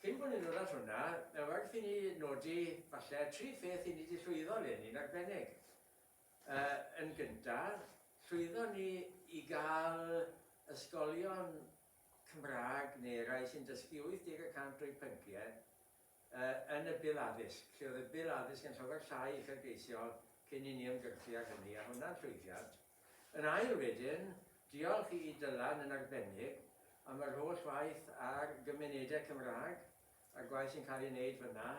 Cyn bod ni'n dod at hwnna, mae werth i ni nodi, falle, tri pheth i ni 'di llwyddo leni'n arbennig. Yy, yn gyntaf, llwyddon ni i gael ysgolion Cymraeg, neu rai sy'n dysgu 80 y cant o'u pynciau, yy, yn y Bil Addysg, lle oedd y Bil Addysg yn llawer llai uchelgeisiol cyn i ni ymgyrchu ar hynny, a hwnna'n llwyddiant. Yn ail wedyn, diolch i Dylan yn arbennig am yr holl waith ar gymunedau Cymraeg, a'r gwaith sy'n cael ei wneud fan'na,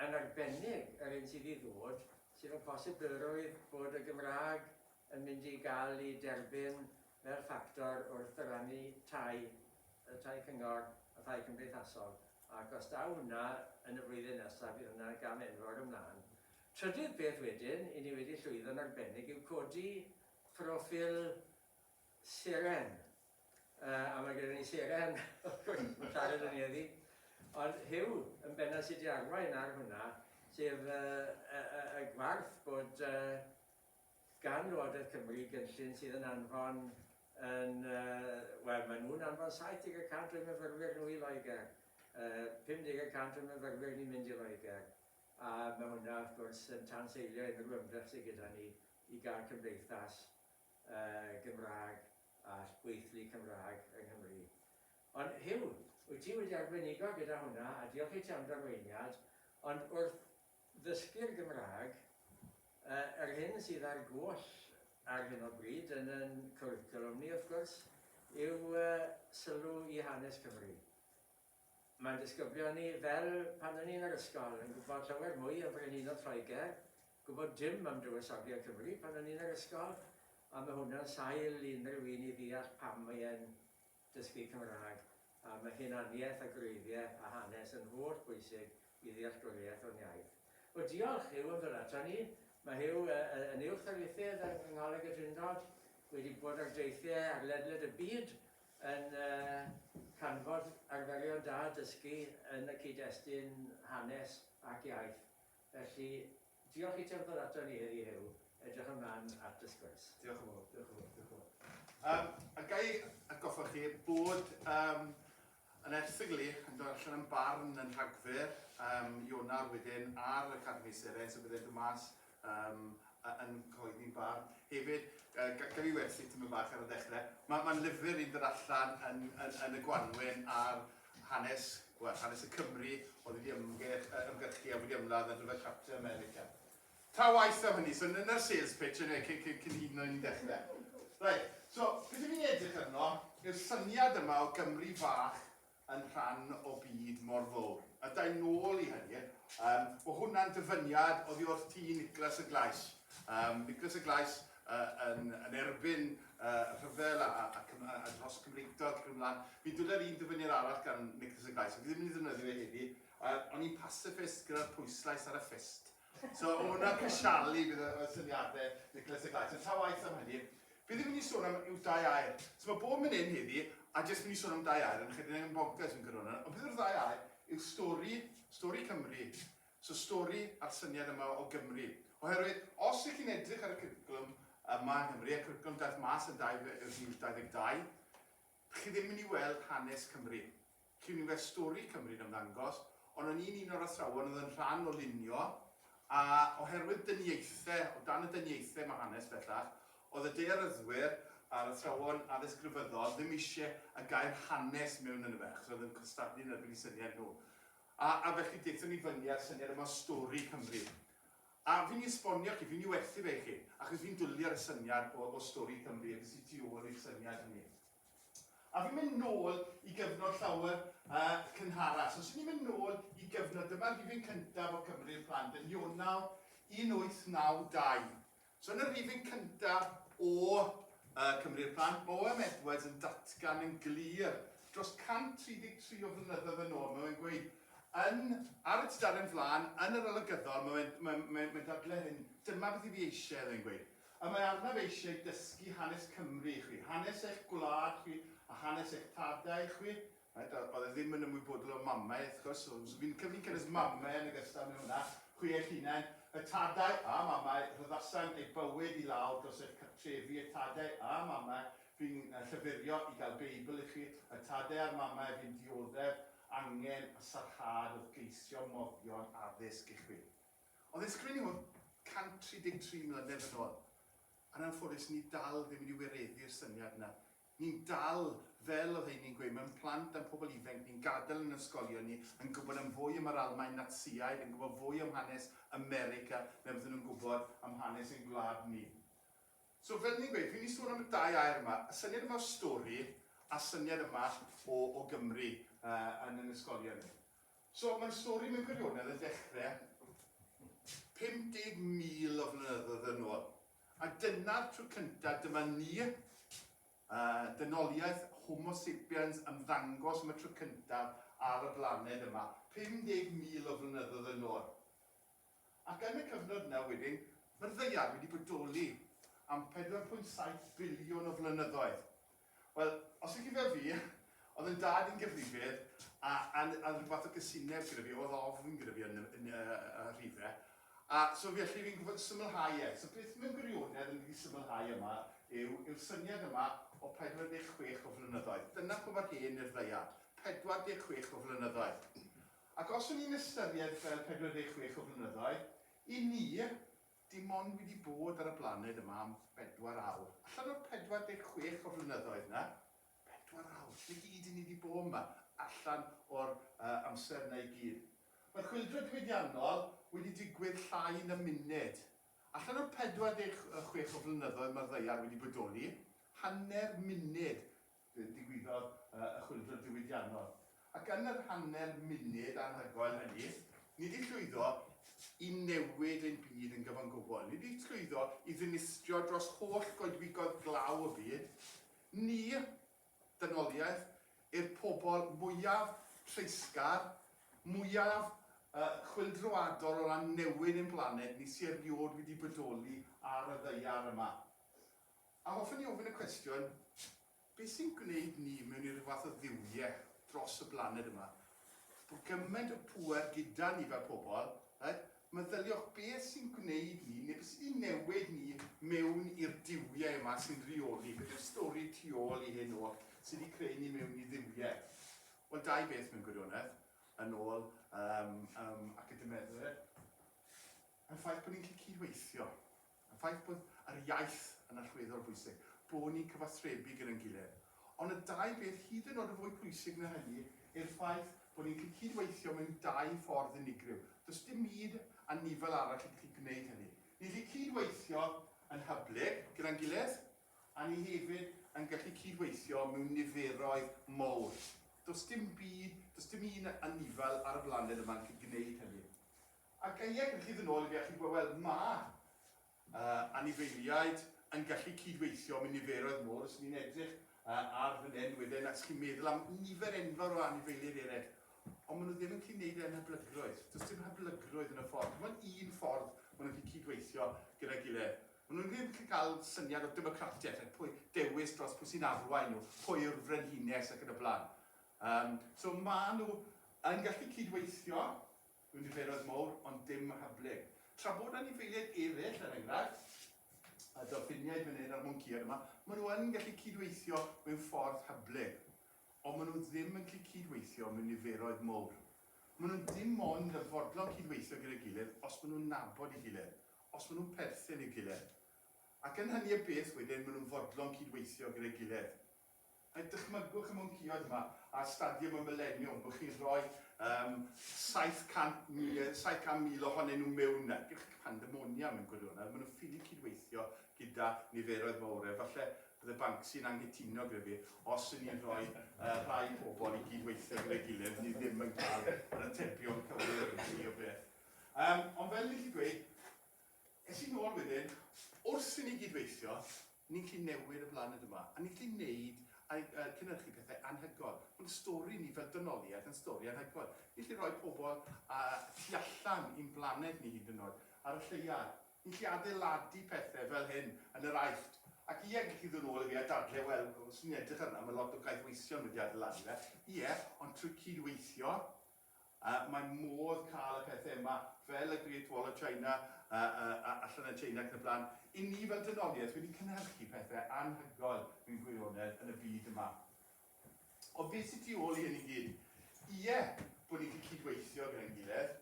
yn arbennig yr hyn sydd i ddod, sef y posibilrwydd bod y Gymraeg yn mynd i gael ei derbyn fel ffactor wrth ddyrannu tai, y tai cyngor, y tai cymdeithasol, ac os daw hwnna yn y flwyddyn nesaf bydd hwnna'n gam enfawr ymlaen. Trydydd peth wedyn, i ni wedi llwyddo'n arbennig yw codi proffil seren. Yy, a mae gyda ni seren, wrth gwrs, mae'n siarad â ni heddi. Ond Huw, yn bennaf, sy 'di arwain ar hwnna, sef yy y y y gwarth bod yy gan Lywodraeth Cymru gynllun sydd yn anfon yn yy, wel, maen nhw'n anfon 70 y cant o'u myfyrwyr nhw i Loegr, yy 50 y cant o'n myfyrwyr ni'n mynd i Loegr. A ma' hwnna wrth gwrs yn tanseilio unrhyw ymdrech sy gyda ni i gael cymdeithas yy Gymraeg a gweithlu Cymraeg yng Nghymru. Ond Huw, wyt ti wedi arbenigo gyda hwnna, a diolch i ti am d'arweiniad, ond wrth ddysgu'r Gymraeg, yy yr hyn sydd ar goll ar hyn o bryd yn yn cwricwlwm ni wrth gwrs yw yy sylw i hanes Cymru. Mae disgyblion ni, fel pan o'n i yn yr ysgol, yn gwybod llawer mwy am Frenhinol Lloegr, gwybod dim am dywysogion Cymru pan o'n i yn yr ysgol, a mae hwnna'n sail i unrhyw un i ddeall pam mae e'n dysgu Cymraeg, a mae hunaniaeth a gwreiddiau a hanes yn holl bwysig i ddealltwriaeth o'n iaith. O, diolch, Huw, am ddod aton ni. Mae Huw yn Uwch Ddarlithydd yng Ngholeg y Drindod, wedi bod ar deithiau ar ledled y byd Yn canfod arferion da dysgu yn y cyd-destun hanes ac iaith. Felly, diolch i ti am ddod aton ni heddi Huw, edrych ymlaen at dy sgwrs. Diolch yn fawr, diolch yn fawr, diolch yn fawr. Yym, a ga i atgoffa chi bod yym yn erthygl i yn dod allan yn Barn yn Rhagfyr, yym Ionar wedyn ar Academi Seren, so bydd e'n dod mas Yym, a yn coeddi barn hefyd. Yy, ga- gaf fi werthu tipyn bach ar y ddechrau? Ma- ma'n lyfr i ddod allan yn, yn, yn y gwanwyn ar hanes, wel, hanes y Cymry oedd wedi ymgyrch, yy, ymgyrchu a wedi ymladd ar gyfer Capten America. Ta waeth am hynny, so n- na'r sales pitch eniwe cyn, cyn, cyn hyd yn oed i ni ddechrau. Reit, so, beth i ni'n edrych arno yw'r syniad yma o Gymru fach yn rhan o byd mor fowr. A da i'n nôl i hynny, um, o hwnna'n dyfyniad oddi wrth ti Nicholas y Glais. Um, Nicholas y Glais uh, yn, yn erbyn uh, rhyfel a, a, a, a dros Cymreictod ac ymlaen. Fi dwle'r un dyfyniad arall gan Nicholas y Glais, fi ddim yn ei ddefnyddio fe heddi, uh, ond i'n pacifist gyda'r pwyslais ar y ffist. So, o hwnna crisialu bydd y syniadau Nicholas a Glyde. So, ta waith am hynny, fi ddim yn ei sôn am yw dau air. So, mae bob mynd hyn heddi, a jyst mynd i sôn am dau air, yn chedyn yn bonkers yn gyrwna. Ond bydd yr ddau air yw stori, stori Cymru. So, stori a'r syniad yma o Gymru. Oherwydd, os ych chi'n edrych ar y cwricwlwm yma yn Nghymru, a cwricwlwm daeth mas yn 2022, chi ddim yn mynd i weld hanes Cymru. Clinfest Stori Cymru'n ymddangos, ond o'n i'n un o'r athrawon oedd yn rhan o lunio, a oherwydd dyniaethe, o dan y dyniaethe mae hanes bellach, oedd y daearyddwyr a'r athrawon addysg grefyddol ddim eisiau y gair 'hanes' mewn ynddo fe, achos oedd yn cystadlu yn erbyn eu syniad nhw. A, a felly daethon ni fyny â'r syniad yma o Stori Cymru. A fi'n ei esbonio chi, fi'n ei werthu fe i chi, achos fi'n dwli ar y syniad o, o Stori Cymru, a beth sy tu ôl i'r syniad hynny. A fi'n mynd nôl i gyfnod llawer uh, cynharach. So, os ni'n mynd nôl i gyfnod, dyma'r rhifyn cyntaf o Cymru i'r plant yn Ionawr 1892. So, yn y rhifyn cyntaf o uh, Cymru i'r plant, Boem Edwards yn datgan yn glir dros 133 o flynyddoedd yn ôl. Mae'n gweud, yn, ar y tudalen flaen, yn yr olygyddol, mae'n mae, mae, mae dadle hyn, dyma beth i fi eisiau, mae'n gweud. Y mae arnaf eisiau dysgu hanes Cymru i chwi, hanes eich gwlad chwi a hanes eich tadau chwi. Reit, a oedd e ddim yn ymwybodol o mamau, wrth gwrs, so so fi'n cyf- fi'n cynnwys mamau yn ogystal mewn hwnna, chwi eich hunain, y tadau a mamau rhyddhasant eu bywyd i lawr dros eich cartrefi, y tadau a mamau fu'n yy llyfyrio i gael Beibl i chwi, y tadau a'r mamau fu'n dioddef angen a sarhad wrth geisio moddion addysg i chwi. Ond fe sgrin i hwn 133 mlynedd yn ôl, a'n anffodus ni dal ddim wedi wireddu'r syniad yna. Ni'n dal, fel oedd heini'n gweud, mewn plant a'n pobl ifainc ni'n gadael yn ysgolion ni yn gwybod am fwy am yr Almaen Natsïaid, yn gwybod fwy am hanes America na beth o'n nhw'n gwybod am hanes ein gwlad ni. So, fel ni'n gweud, fi'n mynd i sôn am y dau air yma, y syniad yma o stori a'r syniad yma o Gymru yn ein ysgolion ni. So, mae'n stori mewn gwirionedd yn dechrau 50,000 o flynyddoedd yn ôl. A dyna'r tro cyntaf dyma ni, dynoliaeth Homo Sapiens, ymddangos am y tro cyntaf ar y blaned yma, 50,000 o flynyddoedd yn ôl. Ac yn y cyfnod yna wedyn, mae'r Ddaear wedi bodoli am 4.7 biliwn o flynyddoedd. Wel, os chi'n cofio fi, oedd yn dad i'n gyfrifydd a oedd rhywbeth o gysineb gyda fi, oedd ofn gyda fi yn y rhife. A so felly fi'n gwybod symlhau e. So beth mewn gwirionedd yn wedi symlhau yma yw'r syniad yma o 46 o flynyddoedd. Dyna pam mae'r hen i'r ddaiad, 46 o flynyddoedd. Ac os o'n i'n ystyried fel 46 o flynyddoedd, i ni, Dim ond wedi bod ar y blaned yma am bedwar awr. Allan o'r 46 o flynyddoedd 'na, pedwar awr, 'na gyd i ni 'di bo' yma, allan o'r amser 'na i gyd. Mae chwyldro diwydiannol wedi digwydd llai na munud. Allan o'r 46 o flynyddoedd ma'r ddaear wedi bodoli, hanner munud Fe ddigwyddodd y chwyldro diwydiannol, ac yn yr hanner munud anhygoel hynny, ni 'di llwyddo i newid ein byd yn gyfan gwbl, ni 'di llwyddo i ddinistrio dros holl goedwigoedd glaw y byd, ni, dynoliaeth, i'r pobl mwyaf treisgar, mwyaf chwyldroadol o ran newid ein blaned ni sy' erioed wedi bodoli ar y ddaear yma. A hoffwn ni ofyn y cwestiwn, beth sy'n gwneud ni mewn i ryw fath o dduwie dros y blaned yma? Bod gymaint o pŵer gyda ni fel pobl, reit? Meddyliwch beth sy'n gwneud ni, neu beth sydd wedi newid ni mewn i'r duwie yma sy'n rheoli. Beth yw'r stori tu ôl i hyn oll sydd wedi creu ni mewn i dduwie? Wel, dau beth mewn gwirionedd, yn ôl um, um, academedde, y ffaith bod ni'n gallu cydweithio. Y ffaith bod yr iaith yn allweddol bwysig, bod ni'n cyfathrebu gyda'n gilydd. Ond y dau beth hyd yn o'd yn fwy pwysig na hynny yw'r ffaith bod ni'n gallu cyd-weithio mewn dau ffordd unigryw. Does dim myd anifail arall yn gallu gwneud hynny. Ni'n gallu cyd-weithio yn hyblyg gyda'n gilydd, a ni hefyd yn gallu cyd-weithio mewn niferoedd mawr. Does dim byd, does dim un anifail ar y blaned yma yn gallu gwneud hynny. Ac a ia, gallwch chi fynd nôl i fi a chi'n gweld, wel, mae yy anifeiliaid yn gallu cyd-weithio, mae niferoedd mawr, os 'y ni'n edrych yy ar fy nen wedden, a 'ych chi'n meddwl am nifer enfawr o anifeiliaid eraill, ond maen nhw ddim yn gallu gwneud e'n hyblygrwydd. Does dim hyblygrwydd yn y ffordd. Dim ond un ffordd maen nhw'n gallu cyd-weithio gyda'i gilydd. Maen nhw'n ddim yn gallu cael syniad o democratiaeth, ac pwy dewis dros pwy sy'n arwain nhw, pwy yw'r frenhines ac yn y blaen. Um, so maen nhw yn gallu cyd-weithio, Rwy'n ddichleroedd mawr, ond dim rhagblug. Tra bod anifeiliaid eraill, er enghraifft, a dolffiniaid fan hyn a'r mwnceaid yma, maen nhw yn gallu cydweithio mewn ffordd hyblyg. Ond maen nhw ddim yn gallu cydweithio mewn niferoedd mawr. Maen nhw dim ond yn fodlon cydweithio gyda'i gilydd os maen nhw'n nabod ei gilydd, os maen nhw'n perthyn i'r gilydd. Ac yn hynny o beth wedyn, maen nhw'n fodlon cydweithio gyda'i gilydd. Neu dychmygwch y mwnciond yma ar stadiwm y Mileniwm, bod chi'n rhoi um, 700,000 700, ohonyn nhw mewn na. Gewch chi pandemonium yn gwirionedd. Maen nhw'n ffili cydweithio gyda niferoedd mawr. Efallai bydde Banksy'n anghytuno gyda fi, os yn ni'n rhoi uh, rhai pobl i gydweithio gyda'i gilydd, ni ddim yn cael yr atebion cywir i o beth. Um, ond fel i chi dweud, Es i nôl wedyn, wrth i ni gyd weithio, ni'n gallu newid y blaned yma, a ni'n gallu gwneud a uh, cynhyrchu pethau anhygoel. Mae'n stori ni fel dynoliaeth yn stori anhygoel. Ni'n gallu rhoi pobl a tu allan i'n blaned ni hyd yn oed, ar y lleia. Ni'n gallu adeiladu pethau fel hyn yn yr aifft. Ac ie, gallu ddod nôl i fi a dadle, wel, os ni'n edrych arno, mae lot o gaeth weision wedi adeiladu fe. Ie, ond trwy cyd-weithio, A mae modd cael y pethau yma, fel y Great Wall of China allan yn Tsieina ac yn y blaen. I ni fel dynoliaeth wedi cynhyrchu pethau anhygoel mewn gwirionedd yn y byd yma. Ond beth sydd tu ôl i hyn i gyd? Ie, bod ni'n gallu cydweithio gyda'n gilydd,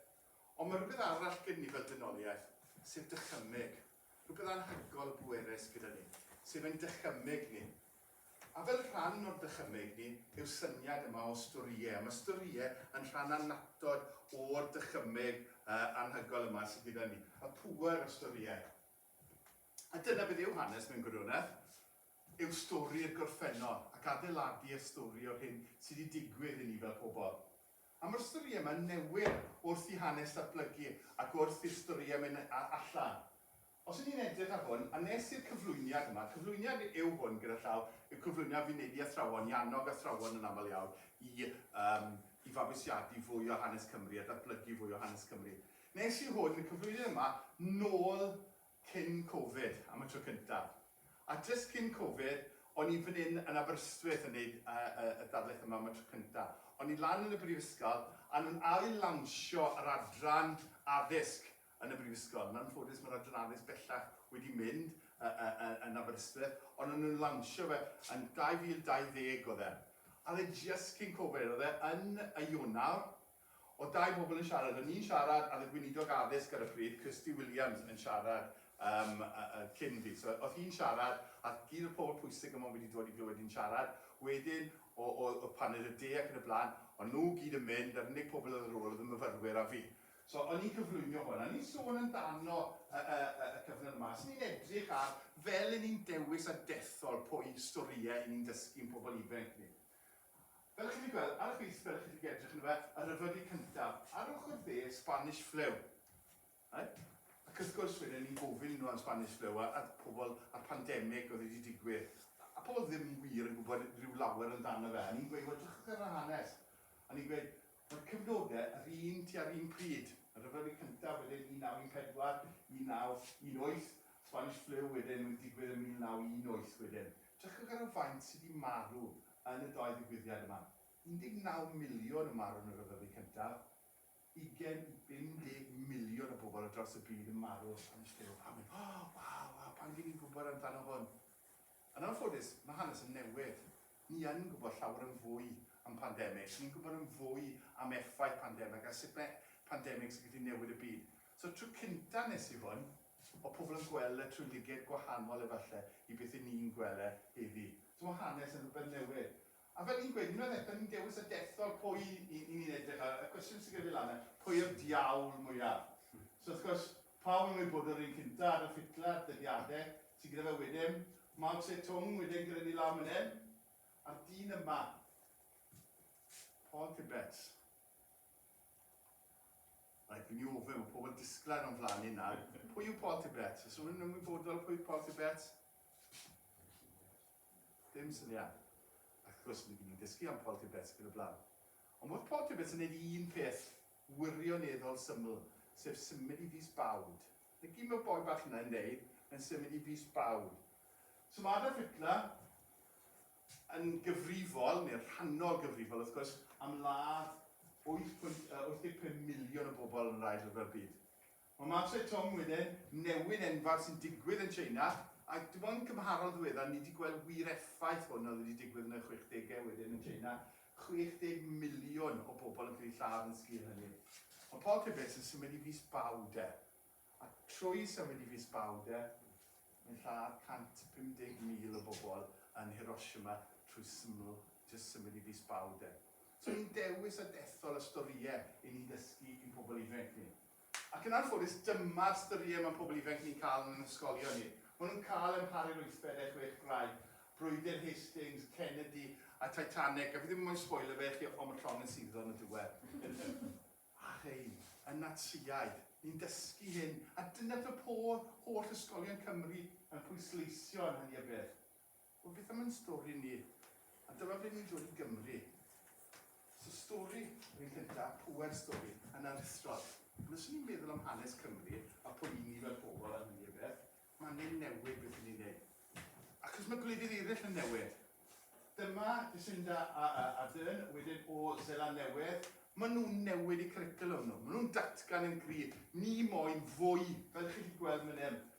ond mae rhywbeth arall gyda ni fel dynoliaeth, sef dychymyg. Rhywbeth anhygoel bwerus gyda ni, sef ein dychymyg ni. A fel rhan o'r dychymyg ni yw'r syniad yma o storïau. Mae storïau yn rhan annatod o'r dychymyg anhygoel yma sydd gyda ni, y pŵer o storïau. A dyna beth yw hanes mewn gwirionedd, yw stori'r gorffennol ac adeiladu y stori o'r hyn sydd wedi digwydd i ni fel pobl. A mae'r storïau yma'n newid wrth i hanes ddatblygu ac wrth i'r storïau mynd allan. Os ydyn ni'n edrych ar hwn, a wnes i'r cyflwyniad yma, cyflwyniad yw hwn gyda llaw, yw cyflwyniad fi'n wneud i athrawon, i annog athrawon yn aml iawn i, um, i fabwysiadu fwy o hanes Cymru a datblygu fwy o hanes Cymru. Nes i hwn, y cyflwyniad yma, nôl cyn Covid, am y tro cyntaf. A jyst cyn Covid, o'n i fan hyn yn Aberystwyth yn gwneud uh, uh, y darlith yma am y tro cyntaf. O'n i lan yn y brifysgol, a nhw'n ail-lawnsio yr adran addysg yn y Brifysgol. Yn anffodus mae'r Adran Addysg bellach wedi mynd yn Aberystwyth, ond o'n nhw'n lansio fe yn 2020 oedd e. A oedd e jyst cyn Covid, oedd e yn y Ionawr. Oedd dau bobl yn siarad, o'n i'n siarad a oedd y Gweinidog Addysg ar y pryd, Kirsty Williams, yn siarad um, cyn fi. So oedd hi'n siarad, a gyd o'r pobl pwysig yma wedi dod i glywed hi'n siarad. Wedyn, o, o, o pan oedd y de ac yn y blaen, o'n nhw gyd yn mynd, a'r unig pobl oedd ar ôl oedd y myfyrwyr a fi. So, o'n i'n cyflwyno hwn, a ni'n sôn amdano y, y, y, y cyfnod yma. Os ni'n edrych ar fel yn ni'n dewis a dethol pwy storïau ni'n dysgu'n pobl ifanc ni. Fel chi'n gweld, ar y chwith fel chi'n edrych yn fe, y rhyfylu cyntaf, ar ochr dde, Spanish flu. Right? Ac wrth gwrs, wedyn ni'n gofyn nhw am Spanish flu a, a pobl a'r pandemig oedd wedi digwydd. A pobl ddim wir yn gwybod rhyw lawer amdano fe. A ni'n gweud, wel, drachwch ar y hanes. A ni'n gweud, Roedd cyfnodau yr un tua'r un pryd, y Rhyfel Byd Cyntaf wedyn 1914, 1918, Spanish Flu wedyn yn digwydd yn 1918 wedyn. Drychwch ar y faint sydd wedi marw yn y dou ddigwyddiad yma. 19 miliwn yn marw yn y Rhyfel Byd Cyntaf, ugain i 50 miliwn o bobl ar draws y byd yn marw o Spanish Flu. A pan fi'n, oh, waw, waw, pan fi'n ni'n gwybod amdano hwn. Yn anffodus, mae hanes yn newydd. Ni yn gwybod llawer yn fwy am pandemig, ni'n gwybod yn fwy am effaith pandemig a sut mae pandemig sy'n gallu newid y byd. So tro cynta nes i hwn, o pobl yn gweld e trwy liged gwahanol efalle i beth 'yn ni'n gwel e heddi. So mae hanes yn rhywbeth newydd. A fel ni'n gweud, unwaith eto, ni'n dewis y dethol pwy i ni'n edrych ar, y cwestiwn sy'n gyda fi lan 'na, pwy yw'r diawl mwyaf? So wrth gwrs, pawb yn ymwybodol o'r un cynta, Adolf Hitler, dyddiade sy gyda fe wedyn, Mao Tse Tung wedyn gyda ni lawr man 'yn, a'r dyn yma, Paul Tibbets. Reit, fi'n myn' i ofyn, ma' pobl disgled o'n flan i nawr, pwy yw Paul Tibbets? O's rhywun yn ymwybodol pwy yw Paul Tibbets? Dim syniad. Ac wrth gwrs, ni fydd ni'n dysgu am Paul Tibbets ac yn y blaen. Ond mi oedd Paul Tibbets yn neud un peth wirioneddol syml, sef symud i fis Bawd. Na gyd ma'r boi bach yna yn neud, mae'n symud i fis Bawd. So ma' Adolf Hitler yn gyfrifol, neu'n rhannol gyfrifol wrth gwrs, am ladd wyth pwynt wyth deg pump miliwn o bobl yn yr Ail Ryfel Byd. Mae Ma Zedong wyneb newydd enfawr sy'n digwydd yn Tsieina, a dim ond cymharol ddiweddar ni 'di gweld wir effaith hwn oedd wedi digwydd yn y chwechdegau wedyn yn Tsieina, 60 miliwn o bobl yn cael eu lladd yn sgil hynny. Ond pob rhywbeth sy'n symud i Fis Baw de, a trwy symud i Fis Baw de, mae'n lladd 150,000 o bobl yn Hiroshima trwy syml, jyst symud i Fis Baw de. So ni'n dewis a dethol y storïau 'yn ni'n dysgu i'n pobl ifanc ni. Ac yn anffodus, dyma'r styried mae pobl ifainc ni'n cael yn ein hysgolion ni. Maen nhw'n cael amharu'r wythfed a'i chwech graig, Brwydr Hastings, Kennedy a Titanic, a fi ddim moyn sboilio fe i chi ond mae llond yn suddo yn y diwedd. A rhein, y Natsïaid, ni'n dysgu hyn, a dyna beth mae pob holl ysgolion Cymru yn pwysleisio yn hynny o beth. Wel beth am yn stori ni? A dyma ble ni'n dod i Gymru. So stori yr un cynta, pŵer stori, yn aruthrol. Ond os 'yn ni'n meddwl am hanes Cymru, a pwy 'yn ni fel pobl a hynny o beth, ma' angen newid beth 'yn ni'n neud. Achos ma' gwledydd eryll yn newid. Dyma Jacinda a a Ardern wedyn o Seland Newydd. Ma' nhw'n newid eu cwricwlwm nhw. Ma' nhw'n datgan yn gryf. Ni moyn fwy, fel 'ych chi 'di gweld man 'yn,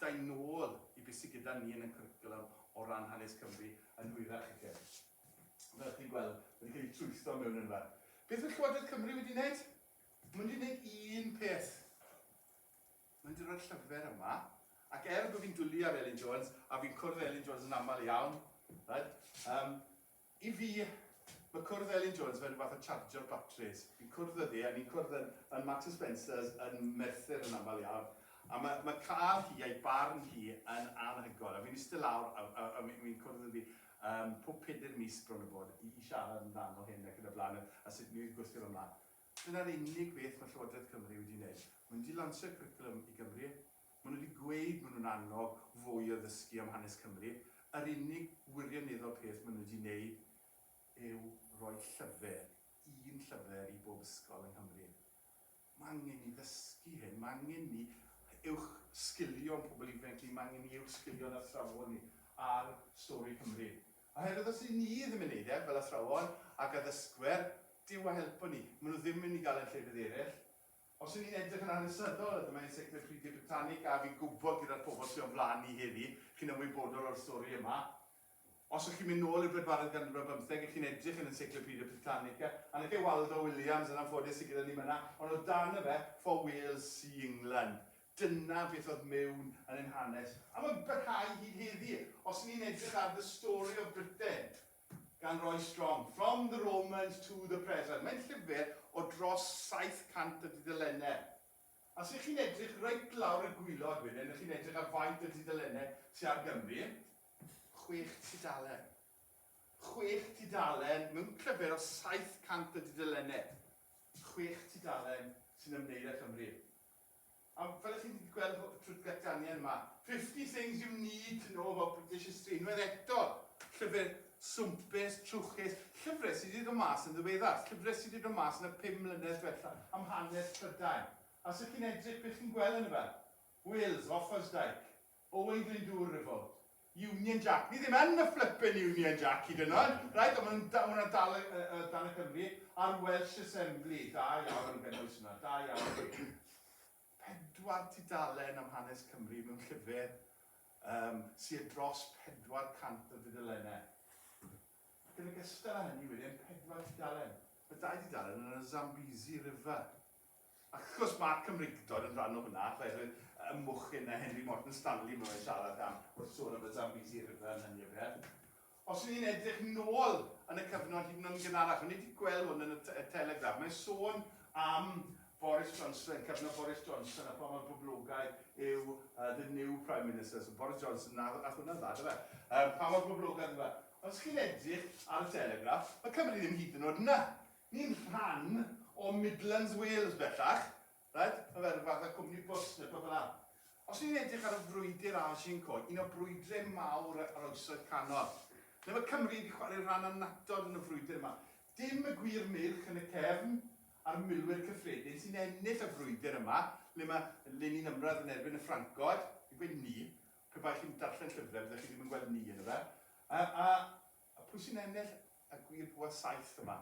Dau nôl i be sy gyda ni yn y cwricwlwm o ran hanes Cymru yn hwyrach i chi. Fel chi'n gweld, wedi cael ei trwytho mewn yn fan. Beth mae Llywodraeth Cymru wedi wneud? Mae nhw wedi wneud un peth. Mae nhw wedi rhoi'r llyfr yma, ac er bod fi'n dwlu ar Elin Jones, a fi'n cwrdd â Elin Jones yn aml iawn, right, um, I fi, mae cwrdd Elin Jones fel rhyw fath o chargio batris. Fi'n cwrdd â hi a ni'n cwrdd yn yn Marks and Spencer's yn Merthyr yn aml iawn a mae mae cael hi a'i barn hi yn anhygoel a fi'n iste lawr a a a fi'n cwrdd â hi um, pob pedair mis bron a bod i i siarad amdano hyn ac yn y blaen a, a sut ni'n gwthio fo mlaen. Dyna'r unig beth mae Llywodraeth Cymru wedi wneud. Maen nhw wedi lansio cwricwlwm i Gymru, Maen nhw wedi gweud maen nhw'n annog fwy o ddysgu am hanes Cymru, yr unig wirioneddol peth maen nhw wedi wneud yw rhoi llyfr, un llyfr i bob ysgol yng Nghymru. Mae angen ni ddysgu hyn, mae angen ni uwch sgilio'n pobl ifanc ni, mae angen ni uwch sgilio'n athrawon ni ar stori Cymru. Oherwydd os y'n ni ddim yn wneud e, fel athrawon ac addysgwyr, Duw a helpo ni, maen nhw ddim yn mynd i gael e'n llefydd eraill. Os y'n ni'n edrych yn hanesyddol, a dyma Encyclopedia Britannica, a fi'n gwybod gyda'r pobl sy' o'n flan i heddi, chi'n ymwybodol o'r stori yma. Os o'ch chi'n mynd nôl i'r bedwaredd ganrif ar bymtheg, a chi'n edrych yn Encyclopedia Britannica, a 'na chi Waldo Williams, yn anffodus, sy' gyda ni myna, ond o dan y fe, For Wales See England. Dyna beth oedd mewn yn ein hanes. A mae'n parhau hyd heddi. Os y'n ni'n edrych ar The Story of Britain, gan Roy Strong, From the Romans to the Present. Mae'n llyfr o dros 700 o dudalennau. A os ych chi'n edrych reit lawr y gwylod wedyn, ych chi'n edrych ar faint o dudalennau sydd ar Gymru, chwech tudalen. Chwech tudalen mewn llyfr o 700 o dudalennau. Chwech tudalen sy'n ymwneud â Chymru. A fel chi 'di gweld y twt datganiad yma, Fifty Things You Need to Know About British History, unwaith eto, llyfr swmpus, trwchus, llyfre sy 'di dod mas yn ddiweddar, llyfre sy 'di dod mas yn y pum mlynedd dwetha, am hanes Prydain. A os 'ych chi'n edrych, be chi'n gweld yn y fan? Wales, Offa's Dyke, Oedd yn do revolt. Union Jack. Ni ddim yn y flippin Union Jack hyd yn oed. Reit, ond maen nhw'n hwnna dal y, y, y, dan y Cymru a'r Welsh Assembly. Da iawn am gynnwys hwnna, da iawn. Pedwar tudalen am hanes Cymru mewn llyfr um, sydd dros 400 o dudalennau. Ac yn ogystal â hynny wedyn, pedwar tudalen. Mae dau dudalen yn y Zambezi River. Ac wrth gwrs, mae'r Cymreictod yn rhan o hwnna, oherwydd y mochyn na Henry Morton Stanley maen nhw'n siarad am wrth sôn am y Zambezi River yn hynny o beth. Os ydyn ni'n edrych nôl yn y cyfnod hyd yn oed yn gynharach, o'n i wedi gweld hwn yn y y Telegraph, mae'n sôn am Boris Johnson, cyfnod Boris Johnson, a pha mor boblogaidd yw uh, the new Prime Minister, so Boris Johnson, na, a hwnna'n dda, dyfa, um, pa mor boblogaidd yw e. Ond os chi'n edrych ar y Telegraph, mae Cymru ddim hyd yn oed yna. Ni'n rhan o Midlands Wales bellach, reit? Mae fe ryw fath o cwmni bws neu rhywbeth fel 'na. Os ni'n edrych ar y frwydr ar Shimco, un o brwydrau mawr yr Oesoedd Canol, ble mae Cymru wedi chwarae rhan annatod yn y frwydr yma, dim y gwir meirch yn y cefn a'r milwyr cyffredin sy'n ennill y frwydr yma, le mae Lenin ymradd yn erbyn y Ffrancod, fi'n gweud 'ni', pe bai chi'n darllen llyfrau byddech chi ddim yn gweld 'ni' yn y fe, a, a, A pwy sy'n ennill y gwir bwa saith yma?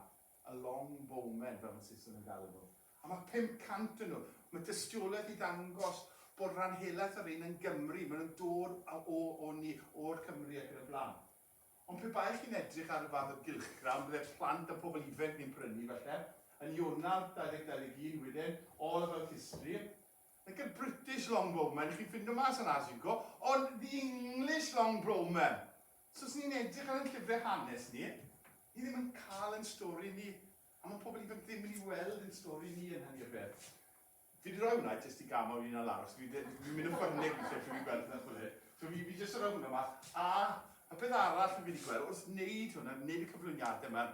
Y long bowmen, fel mae Saeson yn galw nhw. A mae 500 o nhw. Mae dystiolaeth i ddangos bod rhan helaeth o'r rhein yn Gymry. Mae nhw'n dod o, o ni, o'r Cymry ac yn y blaen. Ond pe baech chi'n edrych ar y fath o gylchgrawn, bydde plant a pobl ifainc ni'n prynu, falle, yn Ionawr 2021 wedyn, all about history, like a British long bowmen, chi'n ffindo mas yn Asico, ond the English long bowmen! So os ni'n edrych ar ein llyfrau hanes ni, ni ddim yn cael ein stori ni, a mae pobl ifanc ddim yn ei weld ein stori ni yn hynny o beth. Fi wedi rhoi hwnna jyst i gama fi'n al aros, fi'n mynd yn ffyrnig fi'n llefydd fi'n gweld hwnna chwilio. So fi, fi jyst yn rhoi hwnna mas. A y peth arall fi'n wedi gweld, wrth wneud hwnna, wneud y cyflwyniadau yma,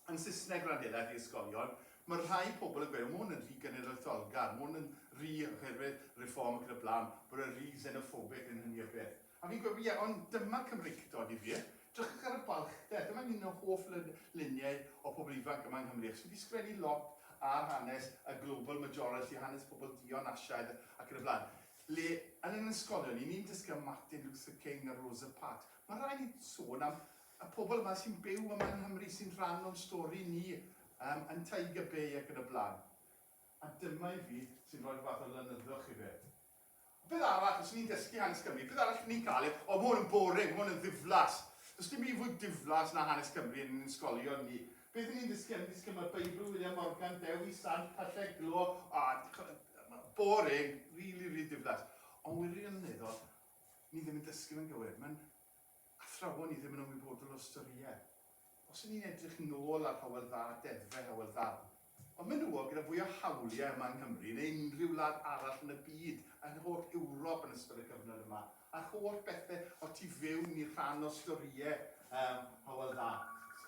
yn Saesneg Rhanddeiliaid i ysgolion, mae rhai pobl yn gweud, o mae hwn yn rhy genedlaetholgar, mae hwn yn rhy oherwydd Reform ac yn y blaen, bod e'n rhy xenophobic yn hynny o beth. A fi'n gweud, ie, ond dyma Cymreictod difyr, drychwch ar y balchder, dyma'n un o hoff luniau o pobl ifanc yma yng Nghymru, achos fi wedi sgwennu lot ar hanes y global majority, hanes pobl dion Asiaidd ac yn y blaen. Le, yn yn ysgolion, ni'n ni'n dysgu am Martin Luther King a Rosa Parks, mae rhaid ni sôn am Y pobl yma sy'n byw yma yng Nghymru sy'n rhan o'n stori ni yym yn Tiger Bay ac yn y blaen. A dyma i fi sy'n rhoi'r fath o lenyddwch i fe. Beth arall, os ni'n dysgu hanes Cymru, beth arall ni'n cael yw, o ma' hwn yn boring, ma' hwn yn ddiflas. Does dim un fwy diflas na hanes Cymru yn ein ysgolion ni. Beth y'n ni'n dysgu, y'n ni'n dysgu am y Beibl, William Morgan, Dewi Sant, Pyllau Glo, o, boring, rili, rili diflas. Ond wirioneddol, ni ddim yn dysgu fe'n gywir. Ma'n athrawon ni ddim yn ymwybodol o ystyried. Os y'n ni'n edrych nôl ar Hywel Dda, deddfe Hywel Dda, y menywod gyda fwy o hawliau yma yng Nghymru neu unrhyw wlad arall yn y byd, yn holl Ewrop yn ystod y cyfnod yma, a'r holl bethe o'r tu fewn i rhan o storïau yym Hywel Dda.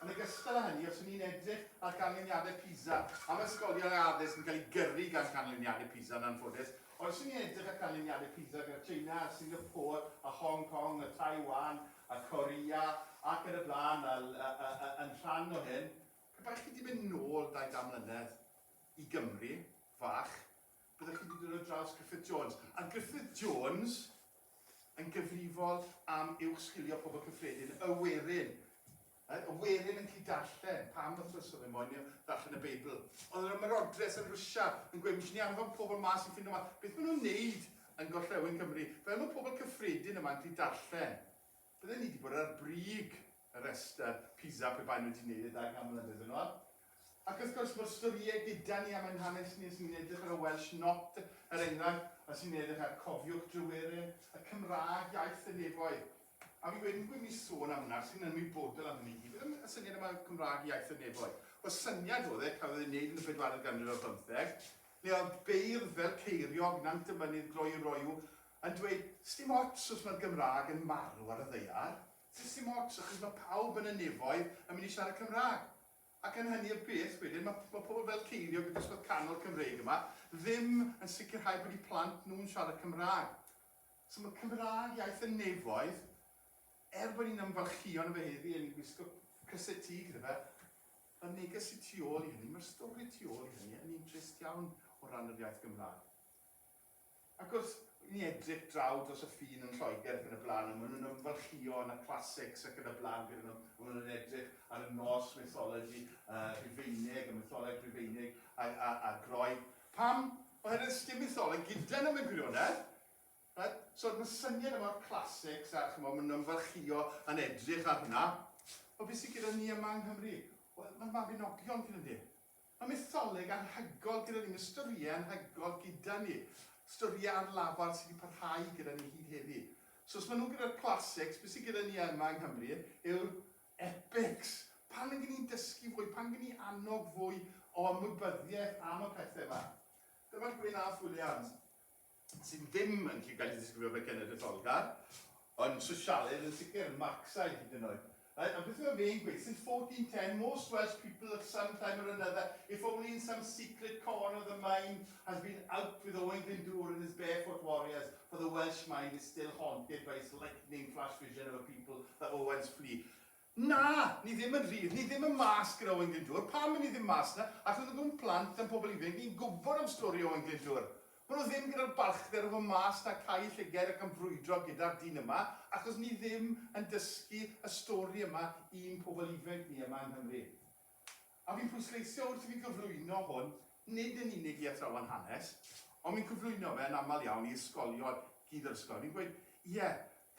Yn ogystal â hynny, os y'n ni'n edrych ar ganlyniadau PISA, am ysgolion a addysg yn cael ei gyrru gan ganlyniadau PISA yn anffodus, Oes yn edrych ar canlyniadau PISA gyda Tsieina a Singapore a Hong Kong a Taiwan a Korea ac yn y blaen fel yn rhan o hyn, pe baech chi 'di mynd nôl dau gan mlynedd i Gymru fach, byddech chi 'di dod ar draws Griffith Jones. A Griffith Jones yn gyfrifol am uwch sgilio pobl cyffredin y werin Y werin yn gallu darllen. Pam wythnos oedd e moyn i o ddarllen y Beibl? Oedd yr ymerodres yn Rwsia yn gweud, misio ni anfon pobl mas i ffindo mas beth maen nhw'n neud yn gorllewin Cymru. Fel mae pobl cyffredin yma yn gallu darllen, bydden ni wedi bod ar brig y rhestr PISA pe baen nhw wedi neud e dau gan mlynedd yn ôl. Ac wrth gwrs, mae'r storïau gyda ni, a mae'n hanes ni os ni'n edrych ar y Welsh Not, er enghraifft, os ni'n edrych ar Cofiwch Dryweryn, y Cymraeg, iaith y nefoedd. A fi'n gweud, yn gwybod mi sôn am hwnna, achos fi'n ymwybodol am hynny i gyd. Beth y syniad yma o Cymraeg, iaith y nefoedd? Wel, syniad oedd e, cafodd ei wneud yn y bedwaredd ganrif ar bymtheg, le oedd beirdd fel Ceiriog, Nant y Mynydd, Gloi Roiw, yn dweud, sdim ots os mae'r Gymraeg yn marw ar y ddaear, sdim ots, achos mae pawb yn y nefoedd yn mynd i siarad Cymraeg. Ac yn hynny o beth wedyn, mae mae pobl fel ceiniog y dosbarth canol Cymreig yma ddim yn sicrhau bod eu plant nhw'n siarad Cymraeg. So mae Cymraeg iaith y nefoedd, er bod ni'n ymfalchïo yno fe heddi a ni'n gwisgo crysau T gyda fe, mae'r neges sy tu ôl i hynny, mae'r stori tu ôl i hynny yn un trist iawn o ran yr iaith Gymraeg. Ac wrth i ni edrych draw dros y ffin yn Lloegr ac yn y blaen, a maen nhw'n ymfalchïo yn y classics ac yn y blaen gyda nhw, a maen nhw'n edrych ar y nos mythology Rhufeinig, y mytholeg Rhufeinig a'r Groeg. Pam? Oherwydd sdim mytholeg gyda nhw mewn gwirionedd. Right? So mae'r syniad yma o'r classics a chymod, maen nhw'n ymfalchïo yn edrych ar hwnna. Ond beth sydd gyda ni yma yng Nghymru? Wel, mae'r Mabinogion cyn y de. Mae mytholeg anhygoel gyda ni, mae storïau anhygoel gyda ni, storïau ar lafar sydd wedi parhau gyda ni hyd heddi. So os maen nhw gyda'r classics, beth sydd gyda ni yma yng Nghymru yw'r epics. Pan ydyn ni'n dysgu fwy, pan ydyn ni annog fwy o ymwybyddiaeth am y pethau yma. Dyma Gwyn Alf Williams. sydd ddim yn gallu cael ei ddisgrifio fel cenedlaetholgar, ond sosialaidd yn sicr, Marcsaidd hyd yn oed. Reit, a beth yw e fe'n gweud? Since 1410, most Welsh people at some time or another, if only in some secret corner of the mind, has been out with Owain Glyndŵr and his barefoot warriors, for the Welsh mind is still haunted by its lightning-flash vision of a people that Owens flee. Na, ni ddim yn rhydd, ni ddim yn mas gyda Owain Glyndwr, pam y'n ni ddim mas na, ac oedd nhw'n plant a'n pobl ifainc, ni'n gwybod am stori Owain Glyndwr. Maen nhw ddim gyda'r balchder o fod mas na cau y llyged ac am frwydro gyda'r dyn yma, achos ni ddim yn dysgu y stori yma i'n pobl ifainc ni yma yng Nghymru. A fi'n pwysleisio wrth i fi gyflwyno hwn nid yn unig i athrawon hanes, ond fi'n cyflwyno fe yn aml iawn i ysgolion, gyd yr ysgolion, fi'n gweud, ie,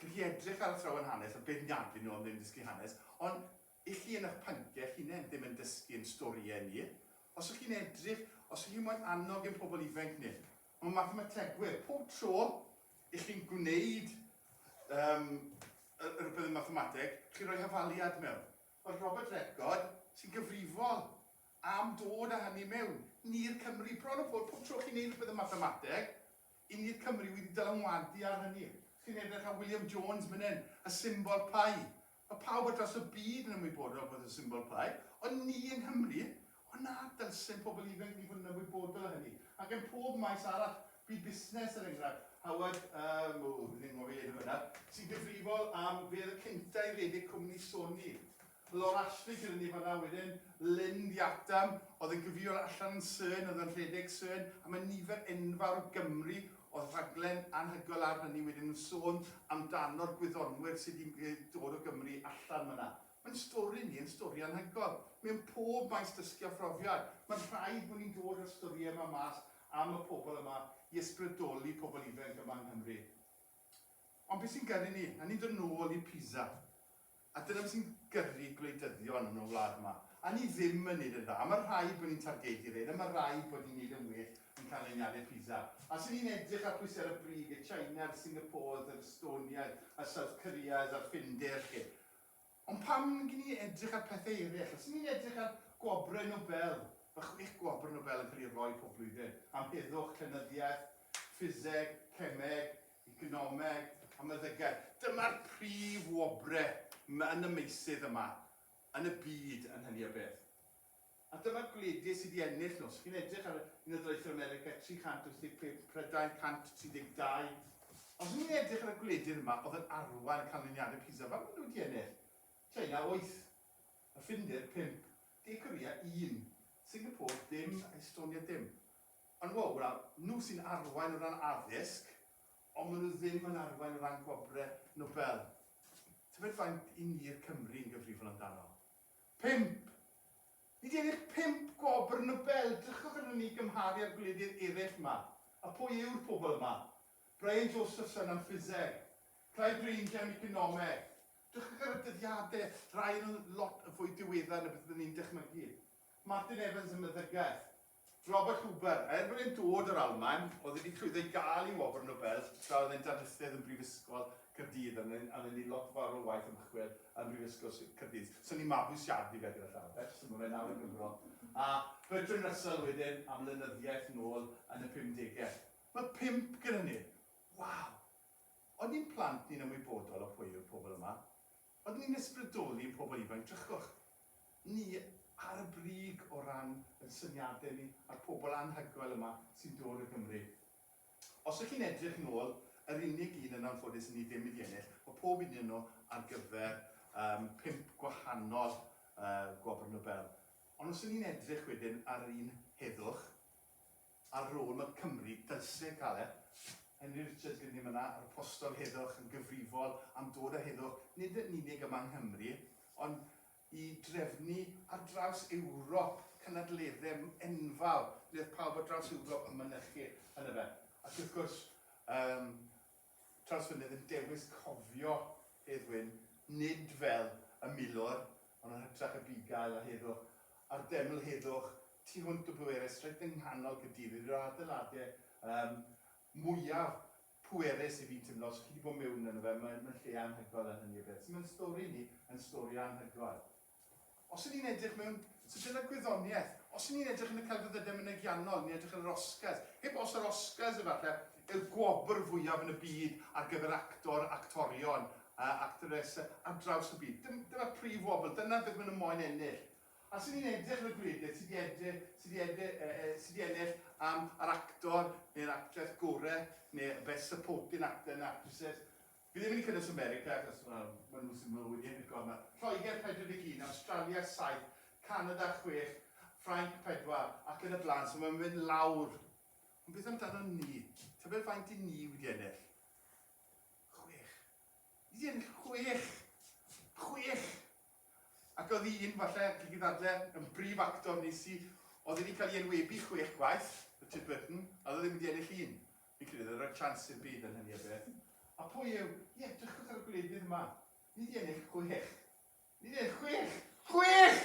gallwch chi edrych ar athrawon hanes a beirniadu nhw am ddim dysgu hanes, ond i chi yn eich pynciau eich hunain ddim yn dysgu ein storïau ni. Os y'ch chi'n edrych, os y'ch chi moyn annog ein pobl ifainc ni, mae mathemategwyr, pob tro y'ch chi'n gwneud um, rhywbeth yn mathemateg, chi'n rhoi hafaliad mewn. Wel, Robert Redford sy'n gyfrifol am dod â hynny mewn, ni i'r Cymry. Bron a bod, pob tro chi'n neud rhywbeth yn mathemateg, i ni'r Cymry wedi dylanwadu ar hynny. Chi'n edrych ar William Jones myn hyn, y symbol pi. Mae pawb ar draws y byd yn ymwybodol beth yw symbol pi, ond ni yng Nghymru, Ond na dylsyn pobl ifanc ni fod yn ymwybodol o hynny, ac ym mhob maes arall, byd busnes er enghraifft, Howard, yym, o, fi'n anghofio ei enw fe nawr, sy'n gyfrifol am fe oedd y cynta i redeg cwmni Sony, Laura Ashley gyda ni fanna wedyn, Lynn the Atom oedd yn gyfrifol allan yn Syrn oedd yn rhedeg Syrn, a mae nifer enfawr o Gymry oedd rhaglen anhygoel ar hynny wedyn yn sôn amdano'r gwyddonwyr sydd wedi dod o Gymru allan fanna. Mae'n stori ni yn stori anhygoel. Mewn pob maes dysgu a phrofiad, mae'n rhaid bod ni'n dod â'r storïau yma mas am y pobl yma i ysbrydoli pobl ifainc yma yng Nghymru. Ond beth sy'n gyrru ni? A ni'n dod nôl i Pisa. A dyna beth sy'n gyrru gwleidyddion yn y wlad yma. A ni ddim yn neud yn dda. A mae rhaid bod ni'n targedu rhein. A mae rhaid bod ni'n neud yn well yn canlyniadau Pisa. A os 'y ni'n edrych ar pwy sy ar y brig, y China'r Singapores, yr Estoniaid, y South Koreas a'r Ffindir 'lly, Ond pan gyn ni edrych ar pethau eraill, os ŷn ni'n edrych ar gwobrau Nobel, mae chwech gwobr Nobel yn cael eu rhoi pob blwyddyn, am heddwch, llenyddiaeth, ffiseg, cemeg, economeg a meddygaeth. Dyma'r prif wobrau yn y meysydd yma yn y byd yn hynny o beth. A dyma'r gwleidydd sydd i ennill nhw. Os chi'n edrych ar Unol Daleithiau America, 385, Prydain, 132. Os o'n i'n edrych ar y gwleidydd yma oedd yn arwain y canlyniadau PISA, faint maen nhw wedi ennill? China, wyth. Y Ffindir, pump. De Corea, un. Singapore, dim. A Estonia, dim. Ond wow, wel, nhw sy'n arwain o ran addysg, ond maen nhw ddim yn arwain o ran gwobrau Nobel. Tybed faint 'yn ni'r Cymry yn gyfrifol amdano? Pump. Nid ennill pump gwobr Nobel, drychwch arnon ni gymharu â'r gwledydd eraill yma. A pwy yw'r pobl yma? Brian Josephson am ffiseg. Clive Ranger am economeg. Drychwch ar y dyddiadau, rai yn lot yn fwy diweddar na beth byddwn ni'n dychmygu. Martin Evans am meddygaeth. Robert Huber, er bod e'n dod o'r Almaen, oedd wedi llwyddo i gael ei wobr Nobel tra oedd e'n darlithedd yn Brifysgol Caerdydd, ond oedd e'n neud lot fawr o waith ymchwil yn Brifysgol Sir Caerdydd. So ni'n mabwysiadu fe gyda llaw de, so ma' fe nawr yn Gymro. A Bertrand Russell wedyn, am lenyddiaeth nôl yn y pumdege. Ma' pump gyda ni! Waw! O'n ni'n plant ni'n ymwybodol o pwy yw'r pobl yma? Ydyn ni'n ysbrydoli ein pobl ifanc? Drychwch, ni ar y brig o ran ein syniadau ni a'r pobl anhygoel yma sy'n dod o Gymru. Os y'ch chi'n edrych nôl, yr unig un yn anffodus i ni ddim wedi ennill, mae pob un o nhw ar gyfer yym pump gwahanol yy Gwobr Nobel. Ond os 'yn ni'n edrych wedyn ar yr un heddwch, Ar rôl y Cymry, dylse Caleb, Henry Richards gyda ni fan'na, yr apostol heddwch, yn gyfrifol am dod â heddwch, nid yn unig yma yng Nghymru, ond i drefnu ar draws Ewrop cynadleddau enfawr ble oedd pawb ar draws Ewrop yn mynychu, yndyfe. Ac wrth gwrs, yym, Trawsfynydd yn dewis cofio Hedd Wyn, nid fel y milwr, ond yn hytrach y bugail a heddwch, a'r deml heddwch, tu hwnt o bwerus, reit yng nghanol Caerdydd, un o'r adeiladau yym mwyaf pwerus i fi'n timlo, os chi 'di bod mewn yno fe, mae'n lle anhygoel yn hynny o beth. So mae'n stori ni yn stori anhygoel. Os y'n ni'n edrych mewn sydyn ar gwyddoniaeth, os y'n ni'n edrych yn y celfyddydau mynegiannol, ni'n edrych ar yr Oscars, heb os yr Oscars efallai yw'r gwobr fwyaf yn y byd ar gyfer actor, actorion, actores ar draws y byd. Dyna'r prif wobr, dyna beth maen nhw moyn ennill. A os y'n ni'n edrych ar y gwledydd sydd wedi ennill am yr actor neu'r actores gorau neu y Best Supporting Actor and Actresses, Fi ddim yn cynnwys America achos wel ma nhw sy'n mwy unigol ma Lloegr 41, Awstralia 7, Canada 6, Ffrainc 4 ac yn y blaen so mae'n mynd lawr. Ond beth amdano ni? Tybed faint i ni wedi ennill? Chwech. Ni wedi ennill chwech! Chwech! Ac oedd un, falle, chi gyd ddadle, yn brif actor nes i, oedd wedi cael ei enwebu chwech gwaith, Richard Burton, a oedd e ddim wedi ennill un. Fi'n credu oedd e roi chance i'r byd yn hynny o beth. A pwy yw, ie, edrychwch ar y gwledydd yma, ni wedi ennill chwech. Ni wedi ennill chwech! Chwech!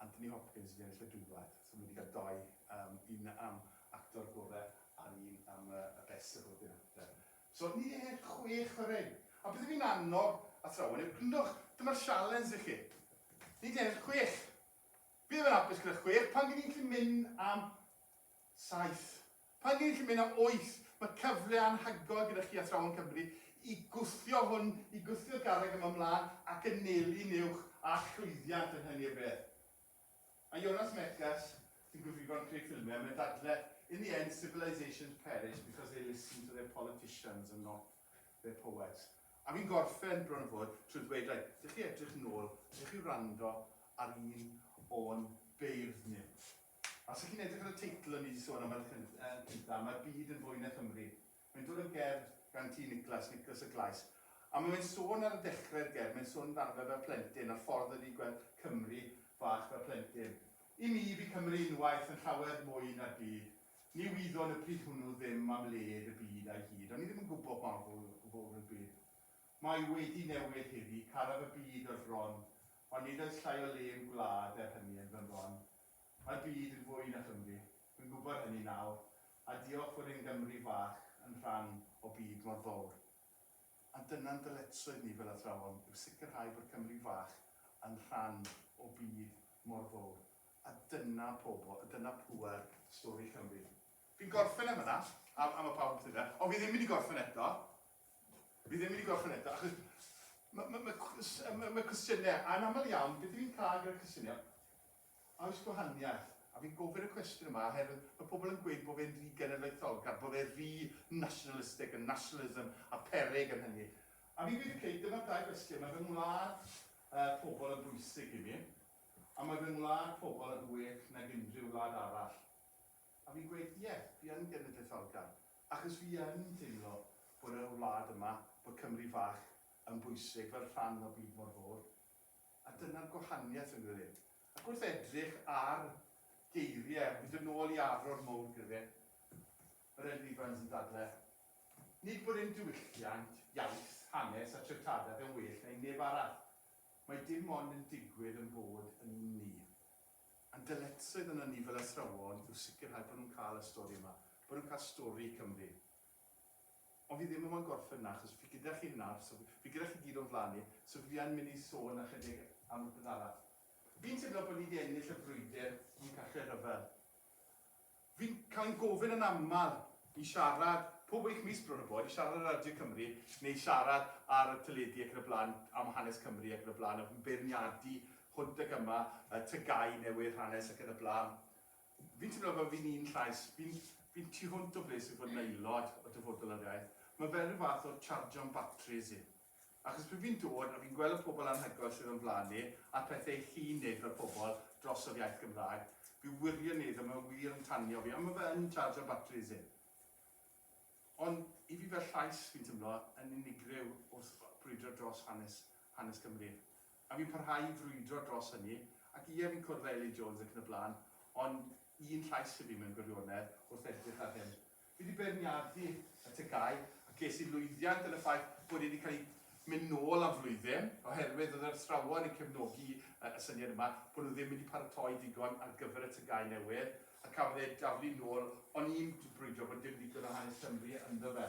Anthony Hopkins wedi ennill y Dwblat, so ma' wedi cael dou, yym un am actor gore a'r un am y y best supporting actor. So ni ie chwech ma' fe'n. A beth fi'n annog athrawon yw gryndwch, dyma'r sialens i chi. Ni di ennill chwech. Fi ddim yn hapus gyda chwech, pan fi'n gallu mynd am Saith. Pan gei chi mynd am wyth, mae cyfle anhygoel gyda chi Athrawon Cymru i gwthio hwn, i gwthio'r garreg yma ymlaen ac annelu'n uwch a llwyddiant yn hynny o beth. A Jonas Mekas, sy'n gyfrifol am creu ffilmiau, mae'n dadle, In the end, civilisations perish because they listen to their politicians and not their poets. A fi'n gorffen, bron a bod, trwy ddweud, reit, dych chi edrych nôl, dych chi wrando ar un o'n beirdd ni. Os ych chi'n edrych ar y teitl o'n ni 'di sôn am y cynta, Mae'r Byd yn Fwy na Chymru. Mae'n dod o'r gerdd gan T Nicholas, Nicholas y Glais. A ma' fe'n sôn ar y dechre'r gerdd, mae'n sôn amdano fe fel plentyn a'r ffordd oedd 'di gweld Cymru fach fel plentyn. I mi, bu Cymru unwaith yn llawer mwy na'r byd. Ni wyddon y pryd hwnnw ddim am led y byd a'i hyd, o'n ni ddim yn gwbo pa mor fowr oedd byd. Mae wedi newid heddi, caraf y byd o'r fron, ond nid oes llai o le i'm gwlad er hynny yn fy mron. Mae'r byd yn fwy na Chymru, rwy'n gwybod hynny nawr, a diolch fod ein Gymru fach yn rhan o byd mor fowr. Ond dyna'n dyletswydd ni fel athrawon yw sicrhau bod Cymru fach yn rhan o byd mor fowr, a dyna pobl, a dyna pŵer stori Cymru. Fi'n gorffen yn fan'na, a mae pawb yn cytuno, ond fi ddim mynd i gorffen eto. Fi ddim wedi gweld hwn eto, achos mae ma, ma, ma, ma cwestiynau, anaml iawn, beth yw'n cael gyda cwestiynau, a oes gwahaniaeth? A fi'n gofyn y cwestiwn yma, oherwydd mae pobl yn gweud bod fe'n rhy genedlaetholgar, bod fe'n rhy nationalistic, y nationalism a perig yn hynny. A fi'n gweud, okay, dyma'r dau gwestiwn, mae fy ngwlad uh, pobl yn bwysig i mi, a mae fy ngwlad pobl yn well nag unrhyw wlad arall. A fi'n gweud, ie, fi yn genedlaetholgar, achos fi yn teimlo bod y wlad yma, bod Cymru fach yn bwysig fel rhan o byd mor fowr. A dyna'r gwahaniaeth, fi'n credu. Ac wrth edrych ar geiriau, hyd yn ôl i Arwr Mowr Griffin, yr Elin Evans yn dadle, Nid bod ein diwylliant, iaith, hanes a treftadaeth yn well na un neb arall. Mae dim ond yn digwydd ein bod yn un ni. Ein dyletswydd arnon ni fel athrawon yw sicrhau bod nhw'n cael y stori yma, bod nhw'n cael stori i Cymru. Ond fi ddim mo'n gorffen yna, achos fi gyda chi nawr, so fi gyda chi gyd o'n flaen i, so fi yn mynd i sôn ychydig am rywbeth arall. Fi'n teimlo bod ni 'di ennill y brwydr yn Cartref Rhyfel. Fi'n cael yn gofyn yn aml i siarad, pob wyth mis bron a bod, i siarad ar Radio Cymru neu i siarad ar y teledu ac yn y blaen am hanes Cymru ac yn y blaen a fi'n beirniadu hwnt ac yma, y TGAU newydd, hanes ac yn y blaen. Fi'n teimlo fel fi'n un llais, fi'n fi'n tu hwnt o ble sydd fod yn aelod o Dyfodol yr Iaith. Mae fe rhyw fath o chargio'n batris i. Achos pryd fi'n dod a fi'n gweld y pobl anhygoel sydd o'n flaen ni, a'r pethe i chi'n neud fel pobl dros yr iaith Gymraeg, fi wirioneddol, mae o wir yn tanio fi, a mae fe yn charjo batris i. Ond i fi fel llais, fi'n timlo yn unigryw wrth brwydro dros hanes, hanes Cymru. A fi'n parhau i frwydro dros hynny, ac ie fi'n cwrdd â Elin Jones ac yn y blaen, ond un llais i fi mewn gwirionedd wrth edrych ar hyn. Fi 'di beirniadu y TGAU a ges i lwyddiant yn y ffaith bod e wedi cael ei mynd nôl am flwyddyn oherwydd oedd yr athrawon yn cefnogi y syniad yma bod nhw ddim wedi paratoi digon ar gyfer y TGAU newydd a cafodd e daflu nôl ond i'n brwydro bod dim digon o hanes Cymru ynddo fe.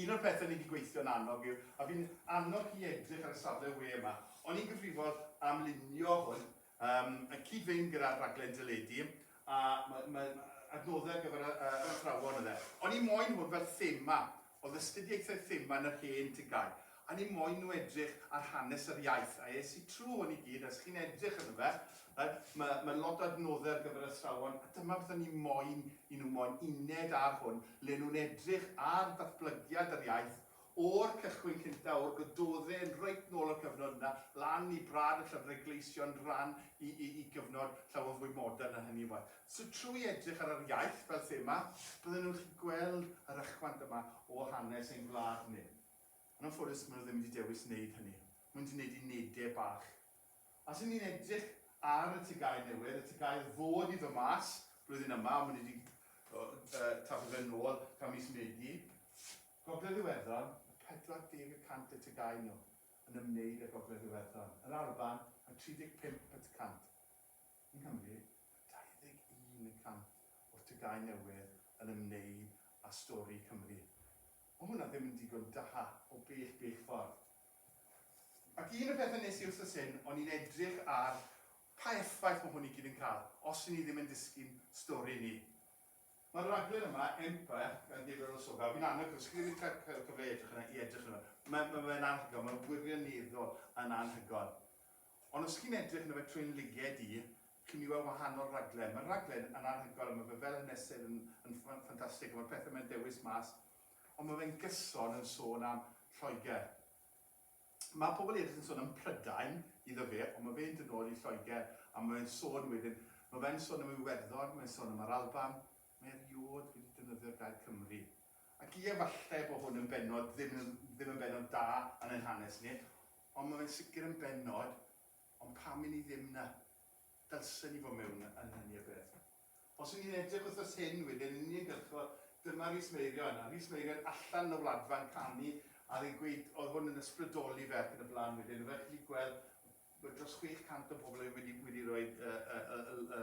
Un o'r pethau ni wedi gweithio'n annog yw, a fi'n annog chi edrych ar y safle we yma, o'n i'n gyfrifol am lunio hwn Yym, yn cyd-fynd gyda rhaglen deledu, a mae, mae adnoddau ar gyfer yr athrawon oedd e. O'n i moyn hwn fel thema, oedd astudiaethau thema yn yr hen tygau, a ni moyn nhw edrych ar hanes yr iaith, a es i trwy hwn i gyd, a os chi'n edrych arno fe, mae, mae lot o adnoddau ar gyfer yr athrawon, a dyma beth o'n i moyn i nhw, moyn uned ar hwn, le nhw'n edrych ar ddatblygiad yr iaith O'r cychwyn cynta, o'r gododdin yn reit nôl y cyfnod yna, lan i brad y llyfrau gleision ran i i i gyfnod llawer fwy modern na hynny ŵan. So trwy edrych ar yr iaith fel thema, bydden nhw'n gallu gweld yr ychwant yma o hanes ein gwlad ni. Yn anffodus, maen nhw ddim wedi dewis wneud hynny. Maen nhw wedi wneud unedau bach Os ŷn ni'n edrych ar y TGAU newydd, y TGAU oedd fod i ddod mas blwyddyn yma, ond mae nhw wedi taflu fe nôl tan mis Medi, Gogledd Iwerddon, mae 40 y cant y TGAU nhw yn ymwneud â Gogledd Iwerddon, yr Alban, mae 35 y cant. Yng Nghymru, mae 21 y cant o'r TGAU newydd yn ymwneud â stori Cymru. Mae hwnna ddim yn digon da, o bell, bell ffordd. Ac un y pethau nes i wsos hyn, o'n i'n edrych ar pa effaith mae hwn i gyd yn cael, os ry'n ni ddim yn disgyn stori ni. Mae'r rhaglen yma, Empire, gan David Olusoga, fi'n annog, os chi ddim wedi cael cael cyfle i edrych arno, i edrych arno. Mae, mae fe'n anhygoel, mae'n wirioneddol yn anhygoel. Ond os chi'n edrych arno fe trwy'n liged i, chi'n mynd i weld wahanol raglen. Mae'r raglen yn anhygoel, mae fe fel hanesydd yn, yn ffan- ffantastig, a mae'r pethau mae'n dewis mas Ond mae fe'n gyson yn sôn am Lloegr. Mae pobl eraill yn sôn am Prydain, iddo fe, ond mae fe'n dod nôl i Lloegr a mae fe'n sôn wedyn, mae fe'n sôn am Iwerddon, mae'n sôn am yr Alban, mae eriôd wedi defnyddio'r gair Cymru. Ac ie, falle bod hwn yn bennod ddim yn ddim yn bennod da yn ein hanes ni, ond mae fe'n sicr yn bennod, ond pam i ni ddim 'na? Dylsen ni fod mewn annibyniaeth. Os y'n ni'n edrych wythnos hyn, wedyn yn uniongyrchol, dyma Rhys Meirion, a Rhys Meirion allan yn y wladfa'n canu, a oedd e'n gweud, oedd hwn yn ysbrydoli fe ac yn y blaen wedyn, fel chi'n gallu gweld, ma' dros 600 o bobl wedi wedi rhoi y y y y y